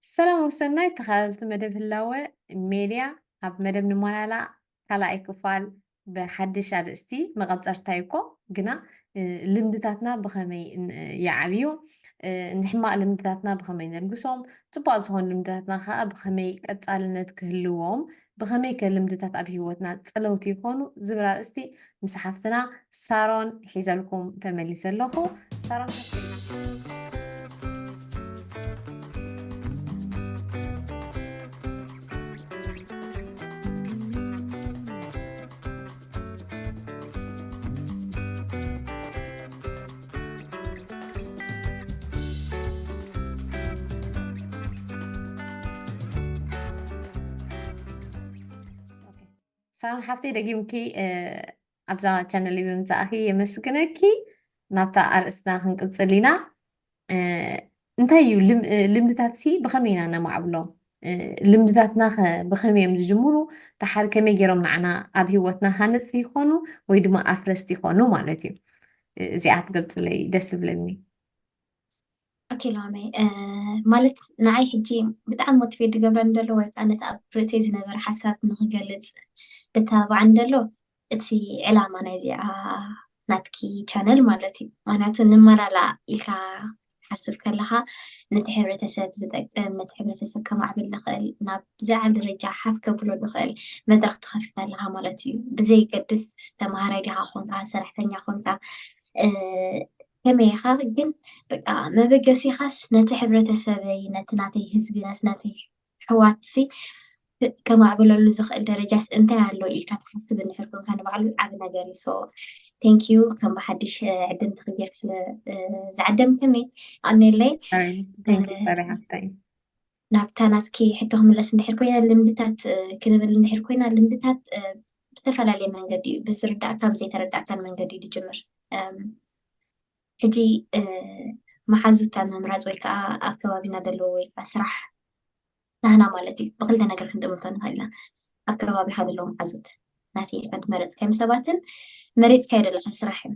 ሰላም ወሰናይ ተኻታተልቲ መደብ ህላወ ሜድያ ኣብ መደብ ንሞያላ ካላኣይ ክፋል ብሓድሽ ኣርእስቲ መቐጸርታ እዩ እኮ ግና ልምድታትና ብኸመይ ይዓብዩ ንሕማቕ ልምድታትና ብኸመይ ነልግሶም ጽቡቅ ዝኾኑ ልምድታትና ከዓ ብኸመይ ቀጻልነት ክህልዎም ብኸመይከ ልምድታት ኣብ ህይወትና ጸለውቲ ይኾኑ? ዝብል ኣርእስቲ ምስ ሓፍትና ሳሮን ሒዘልኩም ተመሊሰ ኣለኹ። ሳሮን ሓፍተይ ሳሮን ሓፍተይ ደጊምኪ ኣብዛ ቻነል ብምምፃእኺ የመስግነኪ ናብታ ኣርእስትና ክንቅፅል ኢና እንታይ እዩ ልምድታትሲ ብኸመይ ኢና ነማዕብሎም ልምድታትናኸ ብኸመይ እዮም ዝጅምሩ ደሓር ከመይ ገይሮም ንዓና ኣብ ሂወትና ሃነፅቲ ይኾኑ ወይ ድማ ኣፍረስቲ ይኾኑ ማለት እዩ እዚኣ ትገልፅለይ ደስ ዝብለኒ ኦኬ ሎሚ ማለት ንዓይ ሕጂ ብጣዕሚ ሞቲቬት ዝገብረኒ ዘሎ ወይ ከዓ ነቲ ኣብ ርእሰይ ዝነበረ ሓሳብ ንክገልፅ ብተባባዓኒ ዘሎ እቲ ዕላማ ናይዚኣ ናትኪ ቻነል ማለት እዩ ምክንያቱ ንመላላእ ኢልካ ክትሓስብ ከለካ ነቲ ሕብረተሰብ ዝጠቅም ነቲ ሕብረተሰብ ከማዕብል ዝክእል ናብ ዝለዓለ ደረጃ ሓፍ ከብሎ ዝክእል መድረክ ትከፍት ኣለካ ማለት እዩ ብዘይገድስ ተማሃራይ ዲካ ኮንካ ሰራሕተኛ ኮንካ ከመይ ኢኻ ግን በቃ መበገሲኻስ ነቲ ሕብረተሰበይ ነቲ ናተይ ህዝቢ ነቲ ናተይ ኣሕዋትሲ ከማዕብለሉ ዝኽእል ደረጃስ እንታይ ኣሎ ኢልካ ትሓስብ እንድሕር ኮንካ ንባዕሉ ዓቢ ነገር እዩ ሶ ቴንክ ዩ ከም ብሓድሽ ዕድምቲ ክጌር ስለ ዝዓደምክኒ ኣኔለይ ናብታ ናትኪ ሕቶ ክምለስ እንድሕር ኮይና ልምድታት ክንብል እንድሕር ኮይና ልምድታት ብዝተፈላለየ መንገዲ እዩ ብዝርዳእካ ብዘይተረዳእካን መንገዲ እዩ ዝጅምር ሕጂ መሓዙታ ምምራጽ ወይ ከኣ ኣብ ከባቢና ዘለዎ ወይ ከኣ ስራሕ ናህና ማለት እዩ ብክልተ ነገር ክንጥምቶ ንኽእል ኢና ኣብ ከባቢኻ ዘለዉ መሓዙት ናተይ ኢልካ ዝመረጽካዮም ሰባትን መሪጽካዮ ዘለኻ ስራሕን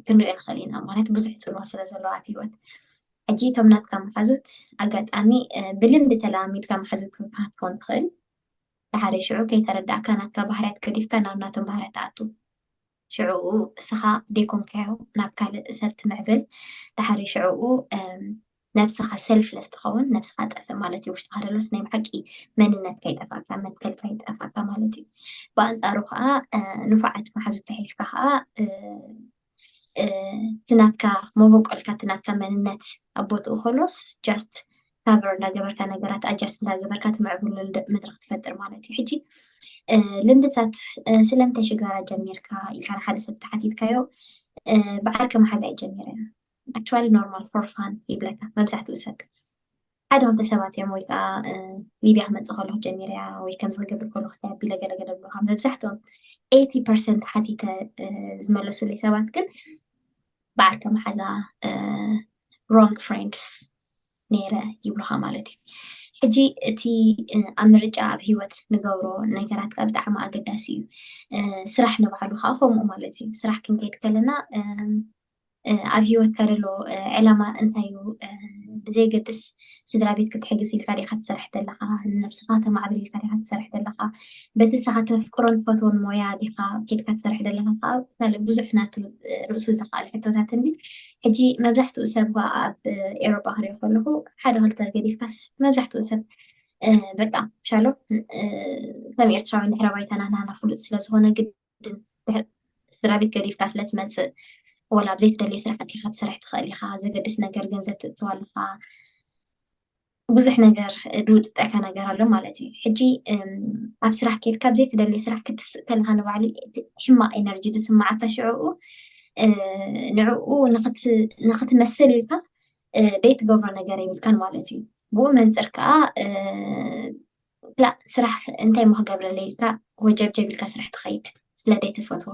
ክንሪኦ ንኽእል ኢና ምክንያቱ ብዙሕ ፅልዋ ስለ ዘለዎ ኣብ ሂወት ሕጂ እቶም ናትካ መሓዙት ኣጋጣሚ ብልምዲ ተለማሚድካ መሓዙት ክትከውን ትኽእል ድሓደ ሽዑ ከይተረዳእካ ናትካ ባህርያት ገዲፍካ ናብ ናቶም ባህርያት ትኣቱ ሽዕኡ እስኻ ደይኮንካዮ ናብ ካልእ ሰብ ትምዕብል ድሓሪ ሽዕኡ ነብስኻ ሰልፍለስ ትኸውን ነብስኻ ጠፍእ ማለት እዩ ውሽጥኻ ደሎስ ናይ ብሓቂ መንነት ከይጠፋእካ መትከል ከይጠፋእካ ማለት እዩ ብኣንፃሩ ከዓ ንፉዓት መሓዙት ተሒዝካ ከዓ እቲ ናትካ መበቆልካ እቲ ናትካ መንነት ኣብ ቦትኡ ከሎስ ጃስት ካቨር እንዳገበርካ ነገራት ኣጃስት እንዳገበርካ ትምዕብሎ መድረክ ትፈጥር ማለት እዩ ሕጂ ልምድታት ስለምንታይ ሽጋራ ጀሚርካ ኢልካ ንሓደ ሰብ ተሓቲትካዮ ብዓርከ መሓዝ ኣይጀሚረ ኣክቹዋሊ ኖርማል ፎር ፋን ይብለካ መብዛሕትኡ ሰብ ሓደ ክልተ ሰባት እዮም ወይ ከዓ ሊብያ ክመፅእ ከሎ ክጀሚር እያ ወይ ከምዚ ክገብር ከሎ ክስታይ ኣቢለ ገለገለ ብሎካ መብዛሕትኦም ኤቲ ፐርሰንት ሓቲተ ዝመለሱለይ ሰባት ግን ብዓርከ መሓዛ ሮንግ ፍሬንድስ ነይረ ይብሉኻ ማለት እዩ ሕጂ እቲ ኣብ ምርጫ ኣብ ሂወት ንገብሮ ነገራት ከዓ ብጣዕሚ ኣገዳሲ እዩ ስራሕ ንባዕሉ ከዓ ከምኡ ማለት እዩ ስራሕ ክንከይድ ከለና ኣብ ሂወትካ ዘሎ ዕላማ እንታይ እዩ ብዘይገድስ ስድራ ቤት ክትሕግዝ ኢልካ ዲካ ትሰርሕ ዘለካ ንነብስካ ተማዕብል ኢልካ ዲካ ትሰርሕ ዘለካ በቲ ንስካ ተፍቅሮን ትፈትዎን ሞያ ዲካ ኬድካ ትሰርሕ ዘለካ ከዓ ብዙሕ ናቱ ርእሱ ዝተካኣሉ ሕቶታት እንዲ ሕጂ መብዛሕትኡ ሰብ እኳ ኣብ ኤውሮጳ ክሪኦ ከለኹ ሓደ ክልተ ገዲፍካስ መብዛሕትኡ ሰብ በቃ ሻሎ ከም ኤርትራዊ ድሕረ ባይታና ናና ፍሉጥ ስለ ዝኾነ ግድን ስድራ ቤት ገዲፍካ ስለ ትመጽእ ወላ ኣብ ዘይትደልዮ ስራሕቲ ክትሰርሕ ትኽእል ኢኻ ዘገድስ ነገር ገንዘብ ትእትው ኣለኻ ብዙሕ ነገር ድውጥጠካ ነገር ኣሎ ማለት እዩ ሕጂ ኣብ ስራሕ ኬድካ ኣብ ዘይትደልይ ስራሕ ክትስእ ከለካ ንባዕሉ ሕማቅ ኤነርጂ ዝስማዓካ ሽዕኡ ንዕኡ ንክትመስል ኢልካ ዘይትገብሮ ነገር የብልካን ማለት እዩ ብኡ መንፅር ከዓ ክላእ ስራሕ እንታይ እሞ ክገብረለይ ኢልካ ወጀብጀብ ኢልካ ስራሕ ትኸይድ ስለ ደይትፈትዎ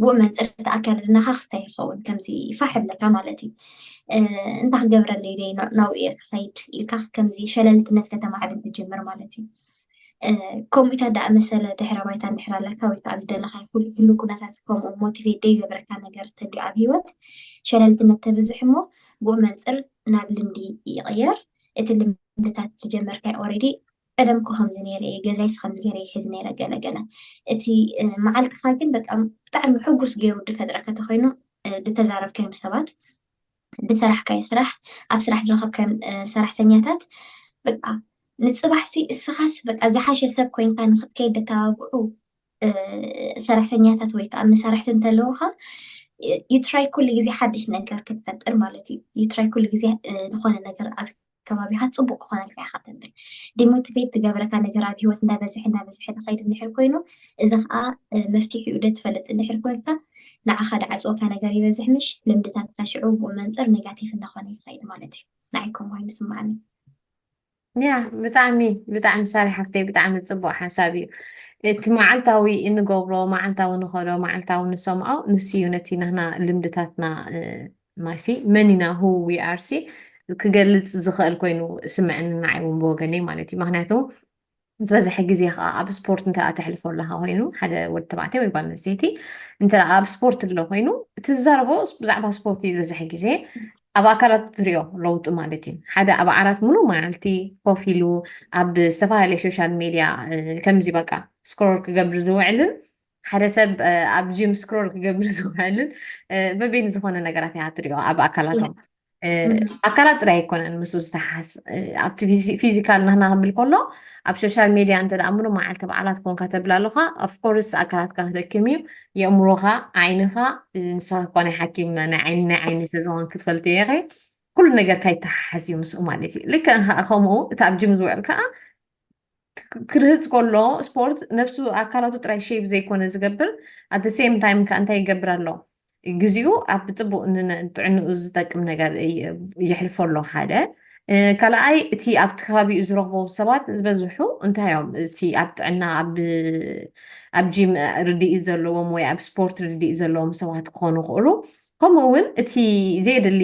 ብኡ መንጽር እቲ ኣከዳድናኻ ክስታይ ይኸውን ከምዚ ፋሕ ይብለካ ማለት እዩ እንታይ ክገብረለይ ደይ ናብኡ እየ ክኸይድ ኢልካ ከምዚ ሸለልትነት ከተማዕብል ትጅምር ማለት እዩ ከምኡ ኢታ ዳኣ መሰለ ድሕረ ባይታ እንድሕር ኣለካ ወይ ከዓ ዝደለካ ኩሉ ኩነታት ከምኡ ሞቲቬት ደይገብረካ ነገር እንተልዩ ኣብ ሂወት ሸለልትነት ተብዝሕ እሞ ብኡ መንፅር ናብ ልምዲ ይቕየር እቲ ክንድታት ዝጀመርካዮ ኦሬዲ ቀደም እኮ ከምዚ ነይረ እየ ገዛይስ ከምዚ ገይረ ይሕዝ ነይረ ገለ ገለ እቲ መዓልትኻ ግን በቃ ብጣዕሚ ሕጉስ ገይሩ ድፈጥረካ ተኮይኑ ድተዛረብካዮም ሰባት ድሰራሕካዮ ስራሕ ኣብ ስራሕ ድረኸብካዮም ሰራሕተኛታት በቃ ንፅባሕሲ እስኻስ በቃ ዝሓሸ ሰብ ኮይንካ ንክትከይድ ደተባብዑ ሰራሕተኛታት ወይ ከዓ መሳርሕቲ እንተለውካ ዩትራይ ኩሉ ግዜ ሓድሽ ነገር ክትፈጥር ማለት እዩ ዩትራይ ኩሉ ግዜ ዝኾነ ነገር ኣብ ከባቢኻ ጽቡቕ ክኾነልካ ኢኻ ተንብል ዲሞቲቬት ዝገብረካ ነገር ኣብ ሂወት እንዳበዝሐ እንዳበዝሐ ዝኸይድ እንድሕር ኮይኑ እዚ ከኣ መፍትሒኡ ዶ ትፈልጥ እንድሕር ኮንካ ንዓኻ ድዓጽወካ ነገር ይበዝሕ ምሽ ልምድታትካ ሽዑ ብኡ መንጽር ኔጋቲቭ እንዳኾነ ይኸይድ ማለት እዩ ንዓይ ከምኡ ኮይኑ ይስምዓኒ ያ ብጣዕሚ ብጣዕሚ ሳሪ ሓፍተይ ብጣዕሚ ፅቡቅ ሓሳብ እዩ እቲ መዓልታዊ እንገብሮ መዓልታዊ ንኸዶ መዓልታዊ ንሰምዖ ንሱ እዩ ነቲ ናህና ልምድታትና ማይሲ መን ኢና who we are ሲ ክገልጽ ዝኽእል ኮይኑ ስምዕኒ ንዓይ እውን ብወገነይ ማለት እዩ ምክንያቱ ዝበዝሐ ግዜ ከዓ ኣብ ስፖርት እንተ ተሕልፎ ኣለካ ኮይኑ ሓደ ወዲ ተባዕታይ ወይ ጓል ኣንስተይቲ እንተ ኣብ ስፖርት ኣሎ ኮይኑ ትዛረቦ ብዛዕባ ስፖርት እዩ ዝበዝሐ ግዜ ኣብ ኣካላት ትሪኦ ለውጢ ማለት እዩ ሓደ ኣብ ዓራት ሙሉእ መዓልቲ ኮፍ ኢሉ ኣብ ዝተፈላለየ ሶሻል ሚድያ ከምዚ በቃ ስክሮል ክገብር ዝውዕልን ሓደ ሰብ ኣብ ጂም ስክሮል ክገብር ዝውዕልን በበይኑ ዝኾነ ነገራት እያ ትሪኦ ኣብ ኣካላቶም ኣካላት ጥራይ ኣይኮነን ምስ ዝተሓስ ኣብቲ ፊዚካል ናህና ክብል ከሎ ኣብ ሶሻል ሜድያ እንተ ደኣ ምሉ መዓልቲ በዓላት ኮንካ ተብል ኣለኻ ኣፍኮርስ ኣካላትካ ክደክም እዩ የእምሮኻ ዓይንኻ ንስኻ እኳ ናይ ሓኪም ናይ ዓይኒ ናይ ዓይኒ ስለዝኾን ክትፈልጥ እየ ኸ ኩሉ ነገርካ ይተሓሓዝ እዩ ምስኡ ማለት እዩ ልክዕ ከምኡ እቲ ኣብ ጅም ዝውዕል ከዓ ክርህፅ ከሎ ስፖርት ነብሱ ኣካላቱ ጥራይ ሼብ ዘይኮነ ዝገብር ኣት ሴም ታይም ከ እንታይ ይገብር ኣሎ ግዚኡ ኣብ ፅቡቅ ንጥዕንኡ ዝጠቅም ነገር የሕልፎ ኣሎ ሓደ ካልኣይ እቲ ኣብቲ ከባቢኡ ዝረኽቦ ሰባት ዝበዝሑ እንታይ እዮም እቲ ኣብ ጥዕና ኣብ ጂም ርድኢ ዘለዎም ወይ ኣብ ስፖርት ርድኢ ዘለዎም ሰባት ክኾኑ ይኽእሉ ከምኡ እውን እቲ ዘየድሊ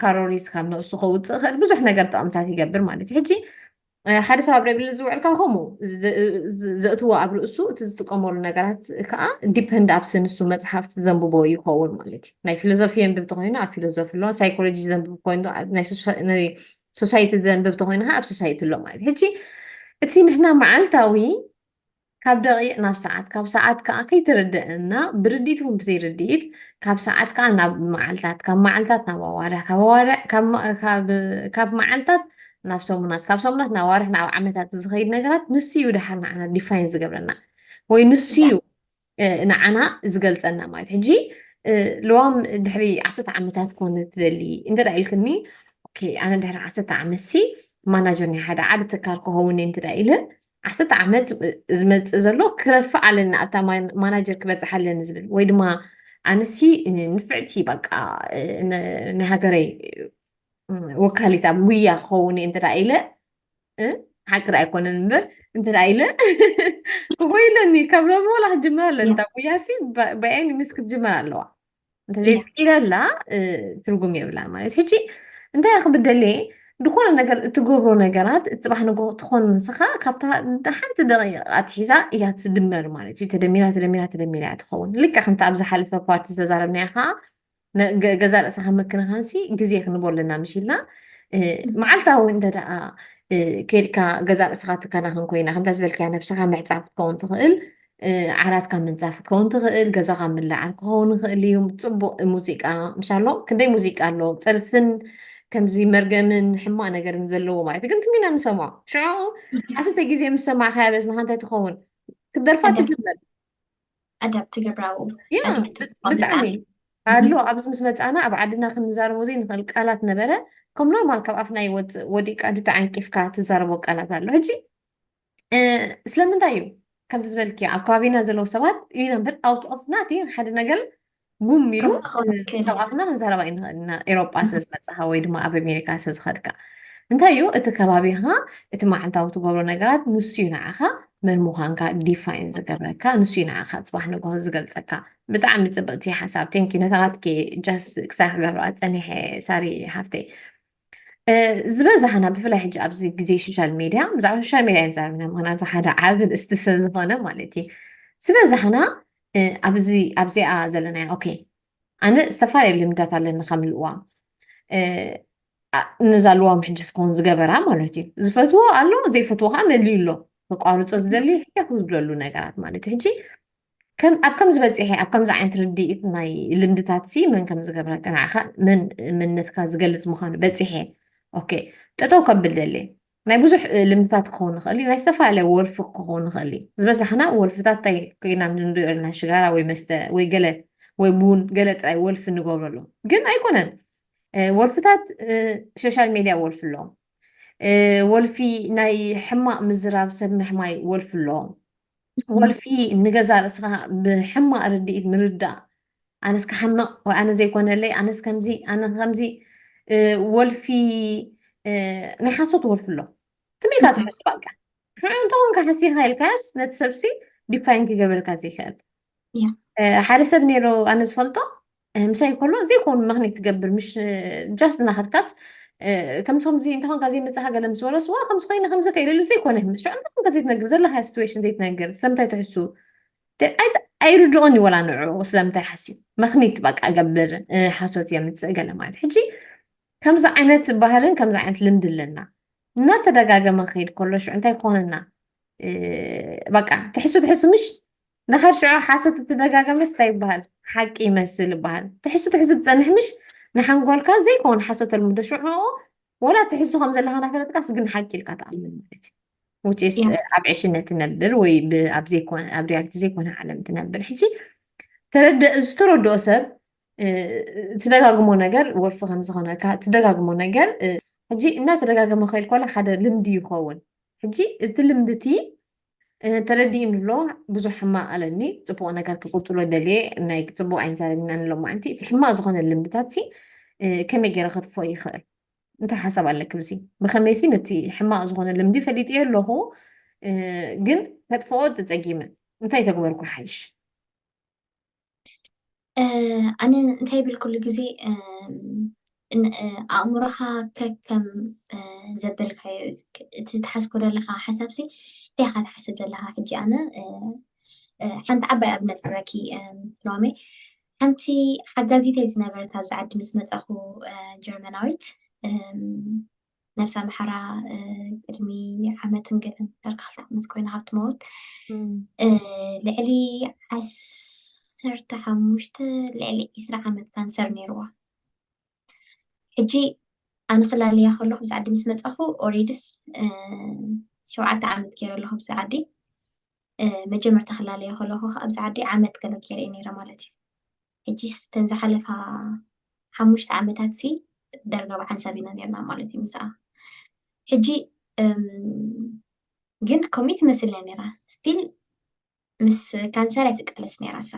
ካሮሪስ ካብ ነብሱ ከውፅእ ኽእል ብዙሕ ነገር ጥቕምታት ይገብር ማለት እዩ ሕጂ ሓደ ሰብ ኣብ ሬብል ዝውዕልካ ከምኡ ዘእትዎ ኣብ ርእሱ እቲ ዝጥቀመሉ ነገራት ከዓ ዲፐንድ ኣብቲ ንሱ መፅሓፍቲ ዘንብቦ ይኸውን ማለት እዩ ናይ ፊሎዞፊ የንብብ ተኮይኑ ኣብ ፊሎዞፊ ኣሎ ሳይኮሎጂ ዘንብብ ኮይኑ ናይ ሶሳይቲ ዘንብብ ተኮይኑ ከዓ ኣብ ሶሳይቲ ኣሎ ማለት እዩ ሕጂ እቲ ንሕና መዓልታዊ ካብ ደቂቅ ናብ ሰዓት ካብ ሰዓት ከኣ ከይትርደእ እና ብርዲት እውን ብዘይ ርዲኢት ካብ ሰዓት ከኣ ናብ መዓልታት ካብ መዓልታት ናብ ኣዋርሕ ካብ ኣዋርሕ ካብ መዓልታት ናብ ሰሙናት ካብ ሰሙናት ናብ ኣዋርሕ ናብ ዓመታት ዝኸይድ ነገራት ንሱ እዩ ድሓር ንዓና ዲፋይን ዝገብረና ወይ ንሱ እዩ ንዓና ዝገልጸና ማለት ሕጂ ልዋም ድሕሪ ዓሰርተ ዓመታት ኮነ ትደሊ እንተ ኢልክኒ ኦኬ ኣነ ድሕሪ ዓሰርተ ዓመት ሲ ማናጀር ናይ ሓደ ዓብ ትካል ክኸውን እንተ ኢለ ዓሰርተ ዓመት ዝመፅእ ዘሎ ክረፍዕ ኣለኒ ኣብታ ማናጀር ክበፅሕ ኣለኒ ዝብል ወይ ድማ ኣነሲ ንፍዕቲ በቃ ናይ ሃገረይ ወካሊት ኣብ ጉያ ክኸውን እየ እንተዳ ኢለ ሓቂ ዳ ኣይኮነን እምበር እንተዳ ኢለ ክኮይለኒ ካብ ሎሚ ወላ ክጅመር ኣለኒ እታ ጉያሲ ብኣይኒ ምስ ክትጅመር ኣለዋ ዘይትኪለላ ትርጉም የብላ ማለት ሕጂ እንታይ ክብደልየ ዝኾነ ነገር እትገብሮ ነገራት እትፅባሕ ንጎ ትኾን ንስኻ ካብታ ሓንቲ ደቂቕ ኣትሒዛ እያ ትድመር ማለት እዩ ተደሚራ ተደሚራ ተደሚራ እያ ትኸውን ልክ ከምቲ ኣብ ዝሓለፈ ፓርቲ ዝተዛረብናያ ከዓ ገዛ ርእስኻ ምክንኻንሲ ግዜ ክንቦ ኣለና ምሽ ኢልና መዓልታዊ እንተደኣ ከድካ ገዛ ርእስኻ ትከናኸን ኮይና ከምታ ዝበልካያ ነብስኻ ምዕፃብ ክትከውን ትኽእል ዓራትካ ምንጻፍ ክትከውን ትኽእል፣ ገዛኻ ምልዓል ክኸውን ይኽእል እዩ፣ ጽቡቕ ሙዚቃ ምስ ኣሎ፣ ክንደይ ሙዚቃ ኣሎ፣ ጸርፍን ከምዚ መርገምን ሕማቕ ነገርን ዘለዎ ማለት እዩ፣ ግን ትም ኢና ንሰምዖ፣ ሽዑ ዓሰርተ ግዜ ምስ ሰማዕካያ በዝንኻ እንታይ ትኸውን፣ ክትደርፋ ትጅምር። ኣዳፕት ትገብራ ኣብኡ፣ ያ ኣድሚት ብ- ትገብራ ብጣዕሚ ብጣዕሚ። ኣሎ እህም፣ ኣብዚ ምስ መጻና ኣብ ዓድና ክንዛረቦ ዘይንኽእል ቃላት ነበረ ከም ኖርማል ካብ ኣፍና ይወጽእ ወዲእካ እንተ ተዓንቂፍካ ትዛረቦ ቃላት ኣሎ ሕጂ ስለምንታይ እዩ ከምዚ ዝበልክዮ ኣብ ከባቢና ዘለዉ ሰባት እዩ ነበር ኣውት ኦፍ ናቲ ሓደ ነገር ጉም ኢሉ ካብኣፍና ክንዛረባ ኢና ኤሮጳ ስለ ዝመፅኻ ወይ ድማ ኣብ ኣሜሪካ ስለ ዝኸድካ እንታይ እዩ እቲ ከባቢኻ እቲ መዓልታዊ ትገብሮ ነገራት ንሱ እዩ ንዓኻ መን ምዃንካ ዲፋይን ዝገብረካ ንሱ እዩ ንዓኻ ፅባሕ ንግሆ ዝገልፀካ ብጣዕሚ ፅብቕቲ ሓሳብ ቴንኪ ነታኻትኪ ጃስ ክሳዕ ክገብራ ፀኒሐ ሳሪ ሓፍተይ ዝበዛሕና ብፍላይ ሕጂ ኣብዚ ግዜ ሶሻል ሚድያ ብዛዕባ ሶሻል ሚድያ ንዛረብና ምክንያቱ ሓደ ዓቢ ንእስቲ ስለ ዝኾነ ማለት እዩ ዝበዛሕና ኣብዚ ኣብዚኣ ዘለና ኦኬ ኣነ ዝተፈላለዩ ልምዳት ኣለኒ ከም ልዋም ነዛ ልዋም ሕጂ ትኸውን ዝገበራ ማለት እዩ ዝፈትዎ ኣሎ ዘይፈትዎ ከዓ መሊዩ ኣሎ ተቋርፆ ዝደሊ ሕያክ ዝብለሉ ነገራት ማለት እዩ ሕጂ ከም ኣብ ከምዚ በጺሐ ኣብ ከምዚ ዓይነት ርድኢት ናይ ልምድታት ሲ መን ከም ዝገብረ ቅንዕኻ መን መንነትካ ዝገልጽ ምዃኑ በጺሐ ኦኬ ጠጠው ከብል ደሊ ናይ ብዙሕ ልምድታት ክኸውን ይኽእል እዩ ናይ ዝተፈላለየ ወልፊ ክኸውን ይኽእል እዩ ዝበዛሕና ወልፍታት እንታይ ኮይና ንሪኦ ኣለና ሽጋራ ወይ መስተ ወይ ገለ ወይ ቡን ገለ ጥራይ ወልፊ ንገብረሉ ግን ኣይኮነን ወልፍታት ሶሻል ሜድያ ወልፊ ኣለዎም ወልፊ ናይ ሕማቕ ምዝራብ ሰብ ምሕማይ ወልፊ ኣለዎም ወልፊ ንገዛ ርእስኻ ብሕማቕ ርድኢት ምርዳእ ኣነስ ክሓምቕ ወይ ኣነ ዘይኮነለይ ኣነስ ከምዚ ኣነ ከምዚ ወልፊ ናይ ሓሶት ወልፊ ኣሎ ትመይካ ትሕስብ ኣልካ ንዑ እንተኾንካ ሓሲኻ ኢልካዮስ ነቲ ሰብሲ ዲፋይን ክገብረልካ ዘይክእል ሓደ ሰብ ነይሩ ኣነ ዝፈልጦ ምሳይ ከሎ ዘይኮኑ ምክንያት ትገብር ምሽ ጃስ እናኸድካስ ከምዚ ከምዚ እንተኾንካ ዘይመፅኻ ገለ ምስ በሎስ ዋ ከምዚ ኮይነ ከምዚ ከ ኢሉ ዘይኮነ ምስ ሽዑ እንታይ ኮንካ ዘይትነግር ዘለካ ሲትዌሽን ዘይትነግር ስለምንታይ ትሕሱ ኣይርድኦን እዩ ወላ ንዑ ስለምንታይ ሓስዩ ምክኒት በቃ ገብር ሓሶት የምፅእ ገለ ማለት ሕጂ ከምዚ ዓይነት ባህርን ከምዚ ዓይነት ልምዲ ኣለና እናተደጋገመ ክኸይድ ከሎ ሽዑ እንታይ ክኾነና በቃ ትሕሱ ትሕሱ ምሽ ንኸር ሽዑ ሓሶት እትደጋገመስ ታይ ይበሃል ሓቂ ይመስል ይበሃል ትሕሱ ትሕሱ ትፀንሕ ምሽ ንሓንጎልካ ዘይከውን ሓሶት ተልምዶ ሽዑ ወላ ትሕሱ ከም ዘለካ ናፈለጥካስ ግን ሓቂ ኢልካ ትኣምን ማለት እዩ ውጭስ ኣብ ዕሽነት ትነብር ወይ ኣብ ሪያልቲ ዘይኮነ ዓለም ትነብር ሕጂ ዝተረድኦ ሰብ ትደጋግሞ ነገር ወልፊ ከምዝኾነካ ትደጋግሞ ነገር ሕጂ እናተደጋገመ ከይል ኮላ ሓደ ልምዲ ይኸውን ሕጂ እቲ ልምዲ እቲ ተረዲእኒ ኣሎ ብዙሕ ሕማቅ ኣለኒ ፅቡቅ ነገር ክቅፅሎ ደልየ ናይ ፅቡቅ ኣይንዛረብና ንሎ ማዓንቲ እቲ ሕማቅ ዝኮነ ልምድታት ሲ ከመይ ገይረ ከጥፎ ይክእል እንታይ ሓሳብ ኣለኪ ብዚ ብከመይ ሲ ነቲ ሕማቅ ዝኮነ ልምዲ ፈሊጥየ ኣለኩ ግን ከጥፍኦ ተፀጊመ እንታይ ተግበርኩ ሓይሽ ኣነ እንታይ ይብል ኩሉ ግዜ ኣእምሮኻ ከከም ዘበልካዮ እቲ ትሓስቦ ዘለካ ሓሳብ ሲ እንታይ ኢኻ ትሓስብ ዘለካ ሕጂ ኣነ ሓንቲ ዓባይ ኣብነት ክበኪ ሎሚ ሓንቲ ሓጋዚተይ ዝነበረት ኣብዚ ዓዲ ምስ መፃኹ ጀርመናዊት ነብሲ ኣምሓራ ቅድሚ ዓመትን ገለን ዳርጋ ክልተ ዓመት ኮይና ካብ ትመውት ልዕሊ ዓሰርተ ሓሙሽተ ልዕሊ ዒስራ ዓመት ካንሰር ነይርዋ ሕጂ ኣነ ክላለያ ከለኹ ብዚ ዓዲ ምስ መፃኹ ኦሬድስ ሸውዓተ ዓመት ገይረ ኣለኹ ብዚ ዓዲ መጀመርታ ክላለዮ ከለኹ ከዓ ኣብዚ ዓዲ ዓመት ገለ ገይረ ነይረ ማለት እዩ ሕጂስ እተን ዝሓለፋ ሓሙሽተ ዓመታትሲ ዳርጋ ብሓንሳብ ኢና ኔርና ማለት እዩ ምስኣ። ሕጂ ግን ከምኡ ትመስልና ኔራ ስቲል ምስ ካንሰር እያ ትቃለስ ኔራ እሳ።